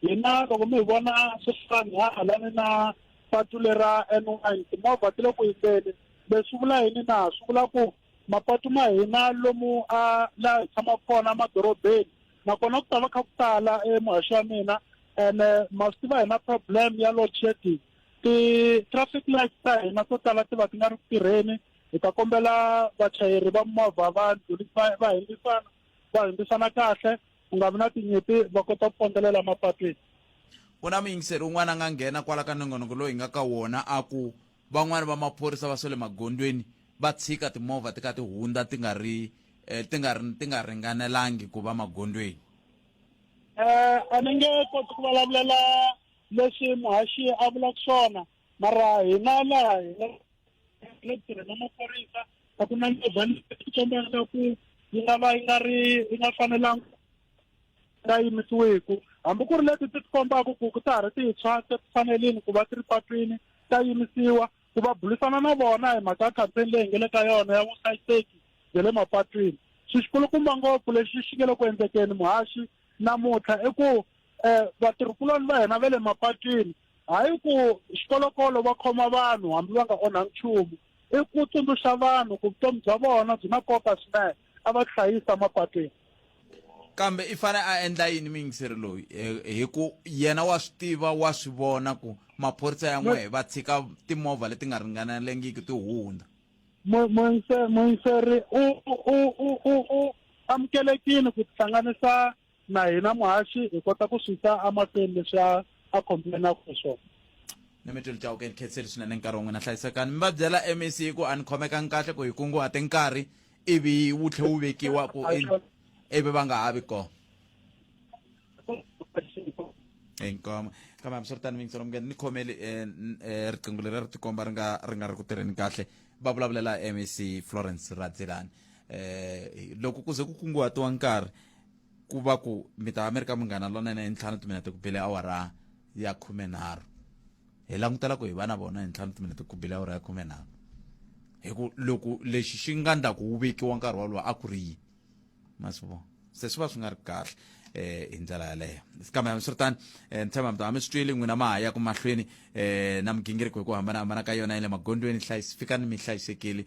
hina loko mi hi vona sweswiwani ha halani na patu lera n one timovha ti le ku yimbeni leswi swi vula yini na swi vula ku mapatu ma hina lomu a laha hi tshamaka kona emadorobeni nakona ku ta va kha ku tala emuhaxo wa mina ene ma swi tiva hina problem ya load shedding ti-traffic lights ta hina to tala ti va ti nga ri ku tirheni hi ta kombela vachayeri va movha va va va hindisana va hindisana kahle ku nga vi na tinyimpi va kota ku pondzelela mapatwini ku na muyingiseri un'wana a nga nghena kwala ka nongonoko lowu hi nga ka wona a ku van'wani va maphorisa va swe le magondweni va tshika timovha ti ka ti hundza ti nga ri eh, ti nga ti nga ringanelangi ku va magondweni um a ni nge koti ku vulavulela leswi muhaxi a vulaka swona mara hina laha hina le tirhi na maphorisa a ku na nyova xikombelo ku yi nga va yi nga ri yi nga fanelanga nga yimisiweku hambi ku ri leti ti tikombaku ku ku ta ha ri tintshwa se ti fanelini ku va ti ri patwini ta yimisiwa ku va bulisana na vona hi mhaka ya campaign leyi hi nge le ka yona ya vuhlayiseki bya le mapatwini xi xikulukumba ngopfu lexi xi nge le ku endlekeni muhaxi namuntlha i ku um vatirhikuloni va hina va le mapatwini Hayi ku xikolokolo va khoma vanhu hambi va nga onhangi nchumu, i ku tsundzuxa vanhu ku vutomi bya vona byi na nkoka swinene, a va tihlayisa mapatwini. Kambe i fane a endla yini muyingiseri loyi hi ku yena wa swi tiva wa swi vona ku maphorisa ya n'wehe va tshika timovha leti nga ringanelangiki ti hundza? Muyingiseri u amukelekile ku tihlanganisa na hina muhaxi hi kota ku swi ta amahlweni leswi a a complainaka hi swona ni mi tilitawuke ni khetseli swinene nkarhi wun'we na hlayisekani mi va byela mec ku a ni khomekangi kahle ku hi kunguhate nkarhi ivi wu tlhe wu vekiwa ku ivi va nga ha vi kona inkomo kambe hambiswiritano mi yingisela mungeni ni khomeli eh, eh, riqingho leri ri tikomba ri nga ri nga ri ku tirheni kahle va vulavulela mec florence radzelani um eh, loko ku ze ku kunguhatiwa nkarhi ku va ku mi ta va mi ri ka munghana lonene hi ntlhanu timinete ku bele awara ya khumenharhu hi langutela ku hi va na vona hi ntlhanu timinete ku bele awara ya khumenharhu hi ku loko lexi xi nga ndlaku wu vekiwa nkarhi wolowo a ku ri yi masivo se swi va swi nga ri kahle eh hi ndlela yaleyo kambe hambiswiritani eh, ni tshemba mi ta mi swi twile n'wina ma ha ya ku mahlweni eh na migingiriko hi ku hambanahambana ka yona ya le magondweni fikani mi hlayisekile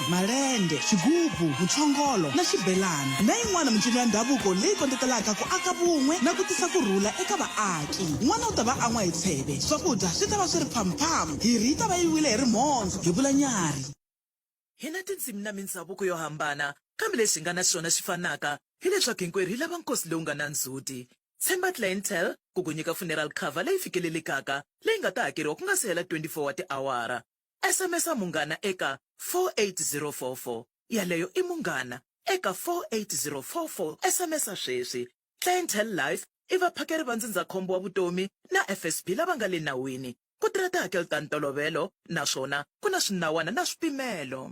malende, xigubu, muchongolo na xibelani na yin'wana mincino ya ndhavuko leyi kondletelaka ku aka vun'we na ku tisa ku rhula eka vaaki. N'wana u ta va a nwa hi tsheve, swakudya swi ta va swi ri phamphamu, hirhi yi ta va yi wile hi rimhondzo, hi vula Nyari. Hi na tindzimi na mindzhavuko yo hambana, kambe lexi hi nga na xona xi fanaka hi leswaku hinkwerhu hi lava nkosi lowu nga na ndzhuti. Tshemba Clientele ku ku nyika funeral cover leyi fikelelekaka leyi nga ta hakeriwa ku nga si hela 24 wa tiawara. SMS-a Munghana eka 48044. Yaleyo i Munghana eka 48044. SMS-a sweswi. Clientele Life i vaphakeri va ndzindzakhombo wa vutomi na FSB lava nga le nawini. Ku tirha tihakelo ta ntolovelo naswona ku na swinawana na swipimelo.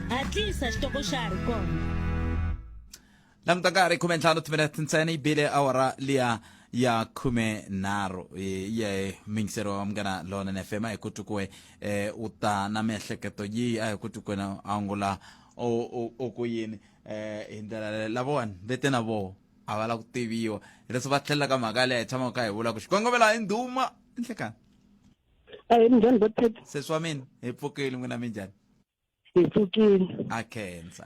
hatlisa xitoko xa ha ri kona languta nkarhi khume ntlhanu timinete ntsena yi bile awara liya ya khume nharhu ye mingisero wa munghana lona na fm a hi ku twi kuwe eh, u ta na miehleketo yihi a hi ku twi kwena angula o- o- o ku yini eh, hi ndlela leyo lavawani vete na voho a va la ku tiviwa hi leswi va tlhelela ka mhaka leyi hi tshamaka ka hi vula ku xikongomela hi ndhuma enhlekani ehe minjhani botet se swa mina hi pfukile n'wina minjhani hi pfukile a khensa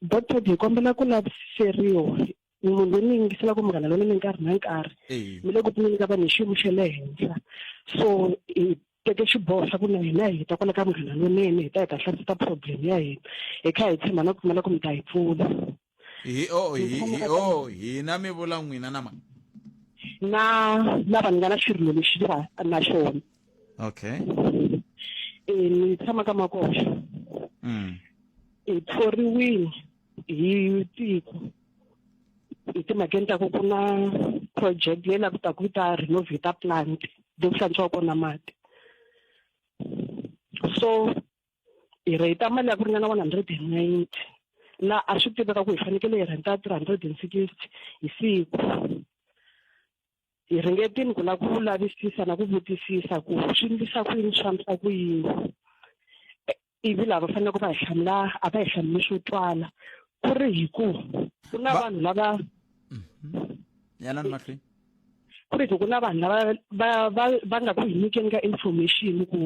doctor hi kombela ku lavisiseriwa munhu loyi ni yingiselaka munghana lona ni nkarhi na nkarhi mi le ku pfuneni ka vanhu hi xiyimo xa le henhla so hi teke xiboho xa ku na hina hi ta kwala ka munghana lonene hi ta hi ta hlasisa problem ya hina hi kha hi tshemba na ku pfumela ku mi ta hi pfuna hi o hi hi o hina mi vula n'wina na mani na lava ni nga na xirilo lexi ni va na xona okay e ni tshama ka makoxa mm. hi thoriwile hi tiko hi timhakeni ta ku ku na project leyi la ku ta ku yi ta renovata plant leyi ku hlantswiwa kona mati so hi rheyita mali ya ku ringana one hundred and ninety laha a swi tiveka ku hi fanekele hi rhenta three hundred and sixty hi siku hi ringetini ku lava ku lavisisa na ku vutisisa ku swi ndlisa ku yini swi fambisa ku yini ivi lava faneleke va hi hlamula a va hi hlamuli swo twala ku ri hi ku ku na vanhu lava mhm. yanani mahlweni ku ri hi ku na vanhu lava va va va nga ku hi nyikeni ka information ku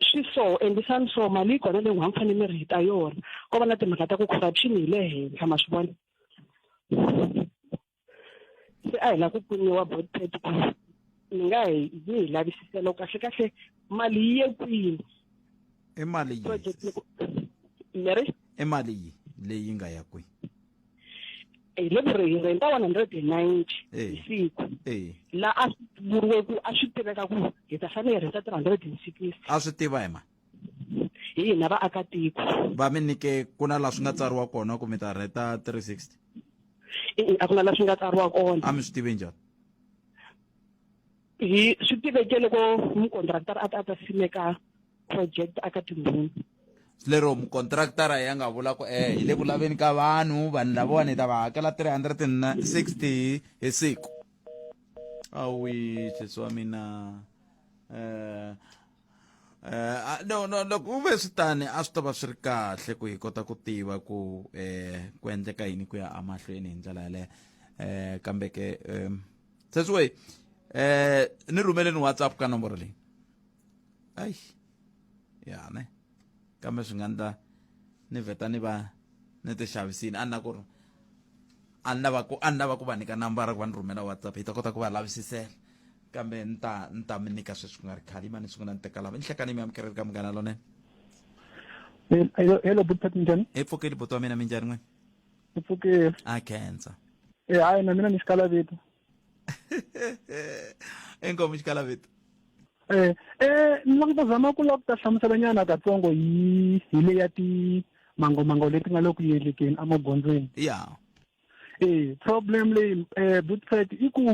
swi so endlisani so mali yi kona leyi n'wina mi fanele mi ri heta yona ko va na timhaka ta ku corruption hi le henhla ma swi vona se a hi lava ku pfuniwa botpet ku ni nga hi yi hi lavisiselo kahle kahle mali yi ye kwini i mali yi project loko ni ri i mali yi leyi nga ya kwihi hi le ku ri hi rhenta one hundred and ninety hi siku la a swi vuriwe ku a swi tiveka ku hi ta fanele hi rhenta three hundred and sixty a swi tiva hi ma hi hina vaakatiko va mi nyike ku na laha swi nga tsariwa kona ku mi ta rheta three sixty a ku na laha swi nga tsariwa kona a mi swi tivi njhani hi swi tiveke loko mukontraktara a ta a ta simeka project aka tindhuni lero mukontraktara ya nga vula ku eh hi le ku laveni ka vanhu vanhu lavawani hi ta va hakela 360 hi siku awi sesi wa mina um Uh, no no loko u ve swi tani a swi ta va swi ri kahle ku hi kota ku tiva ku um ku endleka yini ku ya emahlweni hi ndlela yaleyo um kambe ke um tsetsue eh ni rhumeleni whatsapp ka nomboro leyi ayi ya ne kambe swi nga ndla ni vheta ni va ni ti xavisini a ni na ku ri a ni lava ku a ni lava ku va nyika nambara ku va ni rhumela whatsapp hi ta kota ku va lavisisela kambe ni ta ni ta mi nyika sweswi ku nga ri khale yima ni sungula ni teka lava ni hlekani mi amukeleli ka munghana lonene hello buti njhani hi pfukeli buti wa mina minjhani n'wini Ku pfukile. a khensa Eh hayi na mina ni xikala vito. enkomi xikala vito Eh eh ni lava ku ta zama ku lava ku ta hlamusela nyana katsongo hi hi le ya ti mangomango leti nga le ku yelekeni emagondzweni. ya Eh problem leyi eh butsfet i ku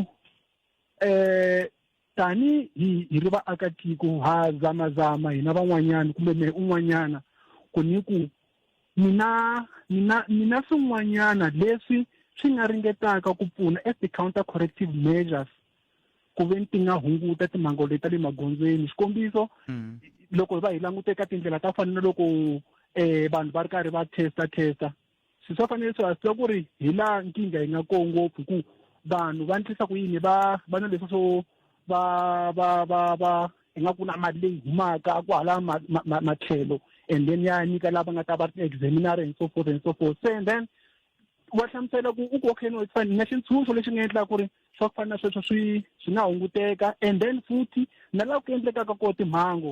eh tani hi hi ri vaakatiko ha zamazama hina van'wanyana kumbe mehe un'wanyana ku ni ku mina mina mina swin'wanyana leswi swi nga ringetaka ku pfuna as ti-counter corrective measures ku ve ni ti nga hunguta timhango leti ta le magondzweni xikombiso mm. loko va hi langute ka tindlela ta fana na loko um vanhu va ri karhi va testa testa swi swa fanele swi hasiwa ku ri hi laha nkingha yi nga koo ngopfu ku vanhu va endlisa ku yini va va na leswi swo va va va va hi nga ku na mali leyi humaka ku hala matlhelo and then ya nyika lava nga ta va ri examinare and so forth and so forth se and then wa hlamusela ku u ku okay no fine na xintshunxo lexi nga endlaka ku ri swa ku fana na sweswo swi swi nga hunguteka and then futhi na laha ku endlekaka kona timhangu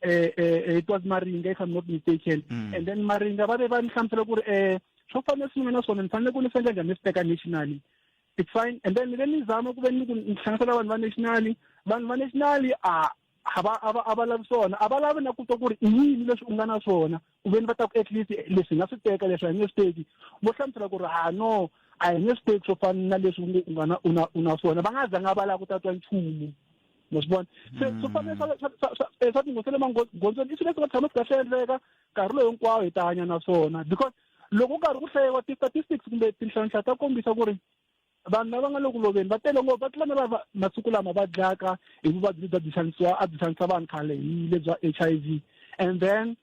eh, eh, eh, it was maringa if i'm not mistaken mm. and then maringa va ve va ni hlamusela ku ri um swo fanele swi nga na swona ni fanele ku ni sendla njhani ni swi teka nationally it's fine and then ve ni zama ku ve ni ku ni hlanganisela vanhu va nationally vanhu va nationally a a va a va a va lavi swona a va lavi na ku twa ku ri i yini leswi u nga na swona ku veni va ta ku at least leswi hi nga swi teka leswi a hi nge swi teki vo hlamusela ku ri ha no a hi nge swi teki swo fana na leswi u nge u nga na u na u na swona va nga zanga va lava ku tatwa nchumu ma swi vona se mm. swo fana eh, swa tinghozi le magondzweni i swilo leswi nga tshama swi kahle endleka nkarhi lowu hinkwawo hi ta hanya na swona because loko u karhi ku hlayiwa ti-statistics kumbe tinhlanhla ta kombisa ku ri vanhu lava nga le ku loveni va tele ngopfu va tlula na lava masiku lama va dlayaka hi vuvabyi lebyi a byi xanisiwa a byi xanisa vanhu khale hi le bya h i v and then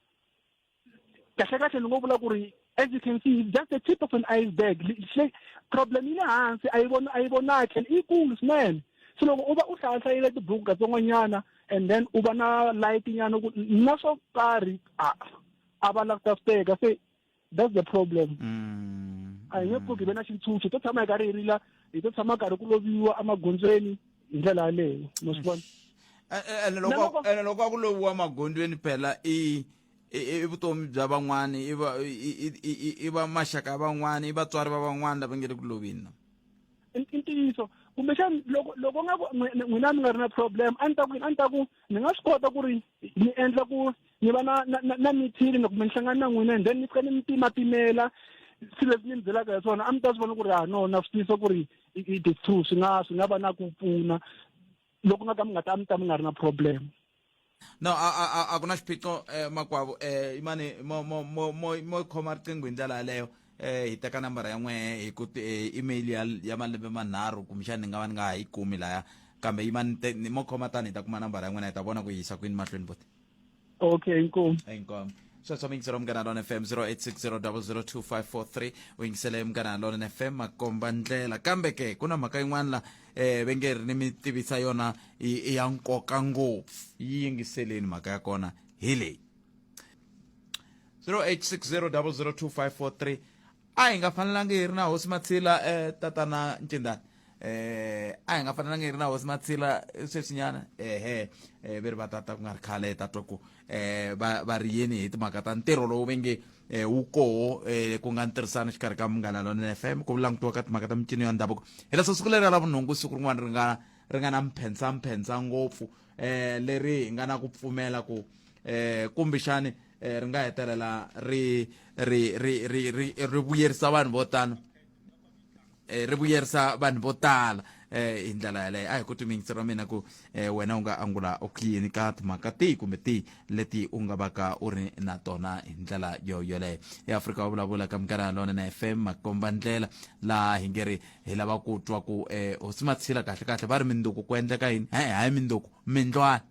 kahlekahle ni ngo vula ku ri as you can see just a tip of an iceberg se problem yi le hansi a yi vona a yi vonaki and i kulu swinene se loko u va u hlayahlayile tibuku katsongonyana and then u va na light nyana ku na swo karhi a a va langutasteka se that's the problem mm. a hi nge pfuki hi ve na xintshunxo hi to tshama hi karhi hi rila hi to tshama karhi ku loviwa emagondzweni hi ndlela yaleyo mo swi vona eh, eh, ene loko ene loko a ku loviwa magondzweni phela i i vutomi bya van'wana i va i va maxaka ya van'wana i vatswari va van'wana lava nge le ku lovini i ntiyiso kumbexani loko loko nga ku n'wina mi nga ri na problem a ni ta ku a ni ta ku ni nga swi kota ku ri ni endla ku ni va na na na mithini ni kumbe ni hlangana na n'wina and then ni fika ni mi pimapimela swilo leswi ni mi byelaka hi swona a mi ta swi vona ku ri ha no na swi tiyisa ku ri it is true swi nga swi nga va na ku pfuna loko nga ka mi nga ta mi ta mi nga ri na problem no a a a ku na xiphiqo eh, makwavo eh imani mo mo mo mo mo khoma riqingho hi ndlela yaleyo eh hi teka nambara ya n'we hi ku eh, email ya ya malembe manharhu kumbexani ni nga va ni nga ha yi kumi laya kambe imani mo khoma tani hi ta kuma nambara ya n'wina hi ta vona ku yisa kwini mahlweni bote okay inkomu inkomu sweswo mi yingisela munghana lona fm 0860002543 u yingisele munghana lona fm makomba ndlela kambe ke ku na mhaka yin'wana la eh ve nge ri ni mi tivisa yona i ya nkoka ngopfu yi yingiseleni mhaka ya kona hi leyi 0860002543 a hi nga fanelanga hi ri na hosi matshila eh tatana ncindani eh a hi nga fanelanga hi ri na hosi matsila sweswinyana ehe eh, ve ri va tata ku nga ri khale tatwa ku eh va va ri yini hi timhaka ta ntirho lowu ve nge eh, wu koho eh, ku nga ntirhisano xikarhi ka munghana lonene f m ku langutiwa ka timhaka ta mincino ya ndhavuko hi leswo siku leri ra lavunhungu siku rin'wana ri nga ri nga na mphentsamphendza ngopfu eh leri hi nga na ku pfumela ku eh kumbexani eh, ri nga hetelela ri ri ri ri ri ri vuyerisa vanhu vo tano eh, ri vuyerisa vanhu vo tala eh, hi ndlela yaleyo a hi ku timingisi ra mina ku eh, wena u nga angula u khiyini ka timhaka tihi kumbe tihi leti u nga vaka u ri na tona hi ndlela yo yoleyo eafrika wa vulavula ka minkarhi yalona na fm makomba ndlela laha hi nge ri hi lava ku twa ku eh, hosi matshila kahle kahle va ri minduku ku endleka yini hayi hayi minduku mindlwana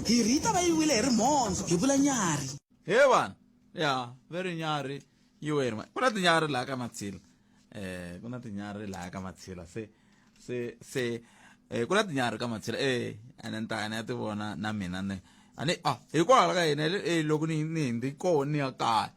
Mbirhi yi ta va yi wile hi rimhondzo, hi vula nyarhi. He vanhu, ya, va ri nyarhi yi we hi rimhondzo. Ku na tinyarhi laha ka Mathila. Eh, ku na tinyarhi laha ka Mathila. Se, se, se, eh, ku na tinyarhi ka Mathila. Eh, ene ni ta ya ni ya ti vona na mina ni. A ni, ah, hikwalaho ka yini, eh, loko ni, ni hundze kona ni ya kaya.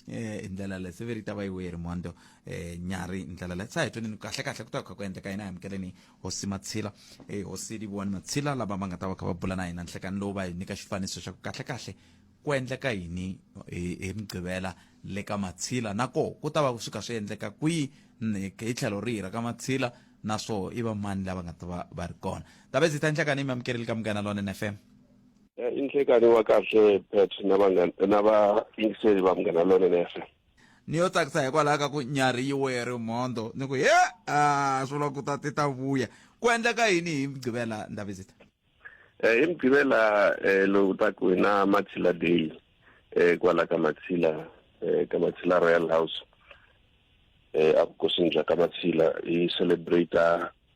eh hi ndlela leyi se ve ri ta va yi weri mondo eh nyari hi ndlela leyi sa hi tweni kahle kahle ku ta kha ku endleka yini amukeleni hosi matshila eh hosi liviwani matshila lava va nga ta va kha va bula na hina nhlekani lowu va hi nyika xifaniso xa ku kahle kahle ku endleka yini hi hi mugqivela le ka matshila na koho ku ta va swi kha swi endleka kwihi ni- hi tlhelo rihi ra ka matshila na swoho i va mani lava nga ta va va ri kona tavezi ta nhlekani mi amukeleli ka munghana lonene fm Eh, i nhlekanyi wa kahle pet na vanghana na vayingiseli va munghana lonene fm ni yo tsakisa hikwalaho ka ku nyari yi weri mhondo ni ku he a swi vula ku ta ti ta vuya ku endleka yini hi mugqivela ndavizita Eh, hi mugqivela eh, lowu ta ku hi na matshila day eh, kwala ka matshila eh, ka matshila royal house eh, evukosini bya ka matshila hi celebrate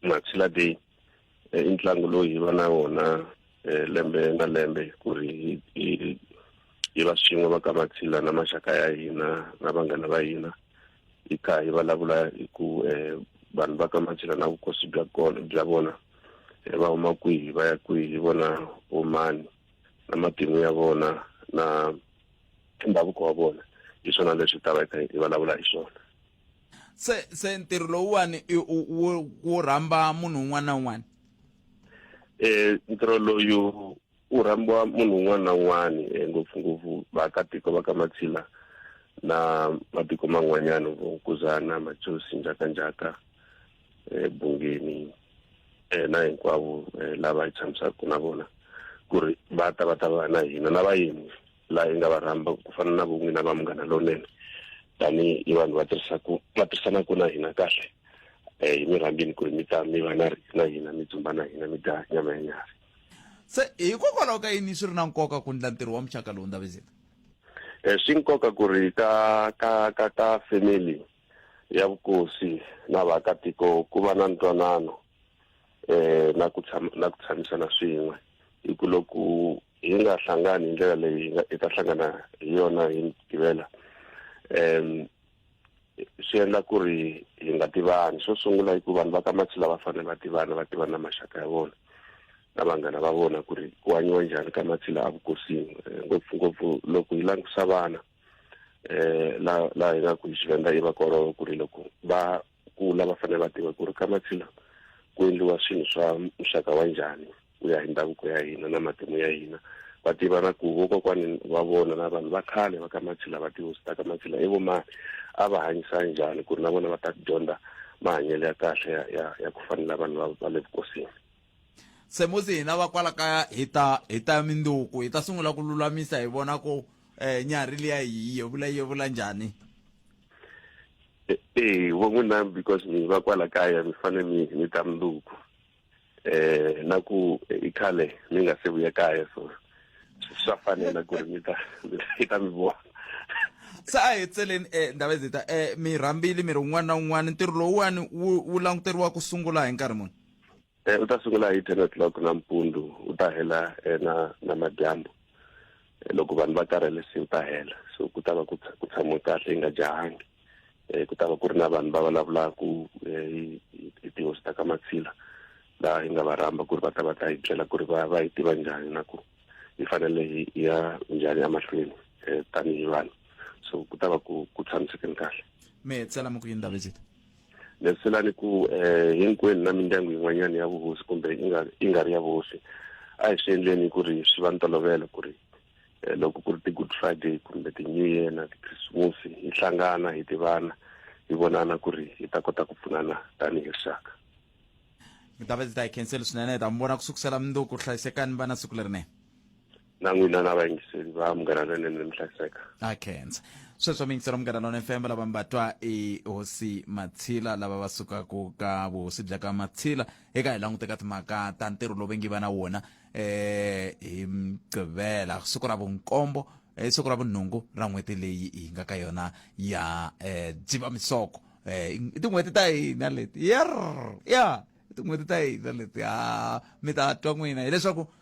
matshila day eh, i ntlangu lowu hi va na wona eh, lembe na lembe ku ri hi va swin'we va ka mathila na maxaka ya hina na vanghana va hina hi kha hi vulavula hi ku um vanhu va ka mathila na vukosi bya kona bya vona va huma kwihi va ya kwihi hi vona vomani na matimu ya vona na ndhavuko wa vona hi swona leswi ta va hi kha hi vulavula hi swona se se ntirho lowuwani wu rhamba munhu un'wana na un'wana um ntirho loyu wu rhambiwa munhu un'wana na un'wana um eh, ngopfungopfu vaakatiko va ka matshila na matiko man'wanyana vo nkuzana majosi njhakanjhaka um eh, bungeni um na hinkwavo um lava hi tshamisaka na vona ku ri va ta va ta va na hina na vayeni laha yi nga va rhamba ku fana na vun'wina va munghana lonene tanihi i vanhu va tirhisaku va tirhisanaku na hina kahle um hi mi rhambini ku ri mi ta mi va na na hina mi dzumba na hina mi dya nyama ya nyarhi se hikokwalaho ka yini swi ri na nkoka ku ndla ntirho wa muxaka lowu ndavezeka um swi nkoka ku ri ka ka ka ka family ya vukosi na vaakatiko ku va na ntwanano um na ku tshama na ku tshamisana swin'we hi ku loko hi nga hlangani hi ndlela leyi hi ta hlangana hi yona hi tivela um swi endla ku ri hi nga tivani xo sungula hi ku vanhu va ka mathila va fanele va tivana va tivana na maxaka ya vona na vanghana va vona ku ri ku hanyiwa njhani ka mathila a vukosini eh, ngopfungopfu loko hi langutisa vana um eh, laha hi nga ku hi xivenda i vakololo ku ri loko va kula va fanele va tiva ku ri ka matshila ku endliwa swilo swa muxaka wa njhani ku ya hi ndhavuko ya hina na matimu ya hina va tiva na ku vokokwani va vona na vanhu va khale va ka matshila va tihosi ta ka matshila i vomani a va hanyisa njhani ku ri na vona va ta dyondza mahanyelo ya kahle ya, ya, ya ku fanela vanhu va le vukosini se musi hina va kwala kaya hi ta hi ta minduku hi ta sungula ku lulamisa hi vona ku um nyarhi liya hi yevula yevula njhani e, ee vo n'wi na because mi va kwala kaya mi fane mi mi ta mundzuku eh na ku i khale mi nga se vuya kaya so swa fanela ku ri mi ta mi ta mi vona se a hi tseleni um eh, ndava ezita um eh, mi rhambile mi ri un'wana na un'wana ntirho lowuwani wu languteriwa ku sungula hi nkarhi muni Eh, u ta sungula hi ten o'clock nampundzu u ta hela eh, na na madyambu eh, loko vanhu va karhele se u ta hela so ku ta va ku tshamiwe kahle yi nga jahangi um ku ta va ku ri na vanhu va vulavulaka hi tihosi ta ka matshila laha hi nga va rhamba ku ri va ta va ta hi byela ku ri va va yi tiva njhani na ku hi fanele hi ya njhani emahlweni um tanihi vanhu so ku ta va ku ku tshamisekeni kahle me tsela mo ku yini ndabezita leswilani ku um hinkwenu na mindyangu yin'wanyana ya vuhosi kumbe yi nga yi nga ri ya vuhosi a hi swi endleni ku ri swi va ni tolovelo ku ri Eh, loko ku ri ti-good friday kumbe ti-new year na tikrisimusi hi hlangana hi tivana hi vonana ku ri hi ta kota ku pfunana tanihi rixaka mi ta va ndzi ta yi khenseli swinene hi ta mi vona ku sukusela mundzuku hlayisekani vana siku lerinene na n'wina na vayingiseli va munghana lonene mi hlayiseka a khensa sweswo mi yingisela munghana lona fm lava mi va twa i hosi matshila lava va sukaku ka vuhosi bya ka matshila eka hi langute ka timhaka ta ntirho lowu vengi va na wona eh hi mgqivela siku ra vunkombo eh, siku ra vunhungu ra n'hweti leyi hi nga ka yona ya eh, dzivamisoko eh, i tin'hweti ta hina leti yer ya i tin'hweti ta hina leti ha mi ta twa n'wina hileswaku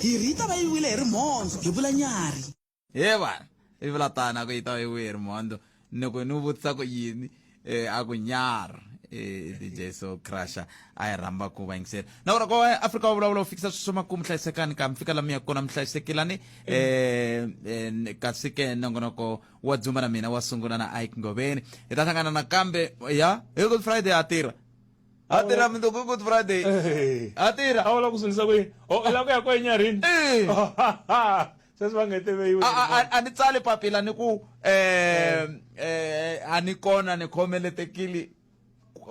Hiri yi ta va yi wile hi rimhondzo, hi vula nyarhi. He vana, yi vula tano, a ku yi ta va yi wile hi rimhondzo. Ni ku ni vutisa ku yini? Eh, a ku nyarhi. Eh, DJ Soul Crusher a hi rhamba ku va yingisela. Na vona ko Afrika va vulavula ku fikisa sweswi swa makumu hlayisekani ka mi fika la mi ya kona mi hlayisekilani. Eh, eh, kasi ke nongonoko wa Dzumba na mina wa sungula na Ike Ngoveni. Hi ta hlangana nakambe ya, hi Good Friday ha tirha. a tirha mundzuku i good friday eh. a tirha a wala ku sungisa ku yini o la ku ya ko enyarini eh. sweswi va nge teveyiwe a ni tsali papila ni ku um a ni kona ni khomeletekile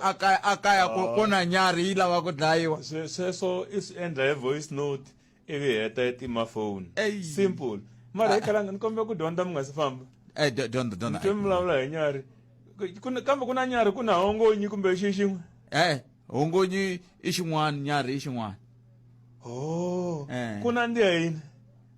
akaya akaya oh. kona nyari yi lava ku dlayiwa sweswo i swi endla hi voice note ivi heta ya tima foni Ei. simple mara hi khalanga ni kombela ku dyondza mi nga si famba Eh, do- dyondza dyondza mutwe mi vulavula hi nyari Ku- ku na- kambe ku na nyari ku na hongonyi kumbe xi xin'we eh hongonyi i xin'wana nyari i xin'wana o Eh. ku nandziha yini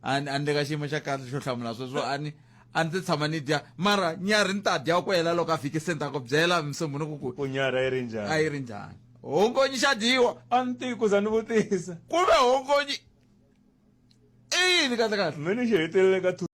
a ni a ni le ka xiyimo xa kahle xo hlamula sweswo a ni a ndzi tshama ni dya mara nyari ni ta dya ku hela loko a fike se ni ta ku byela msombo ni ku ku ku nyara yi ri njhani a yi ri njhani hongonyi xa dyiwa a ni tivi ku za ni vutisa ku ve hongonyi i yini kahle kahle me ni xi hetelele ka two.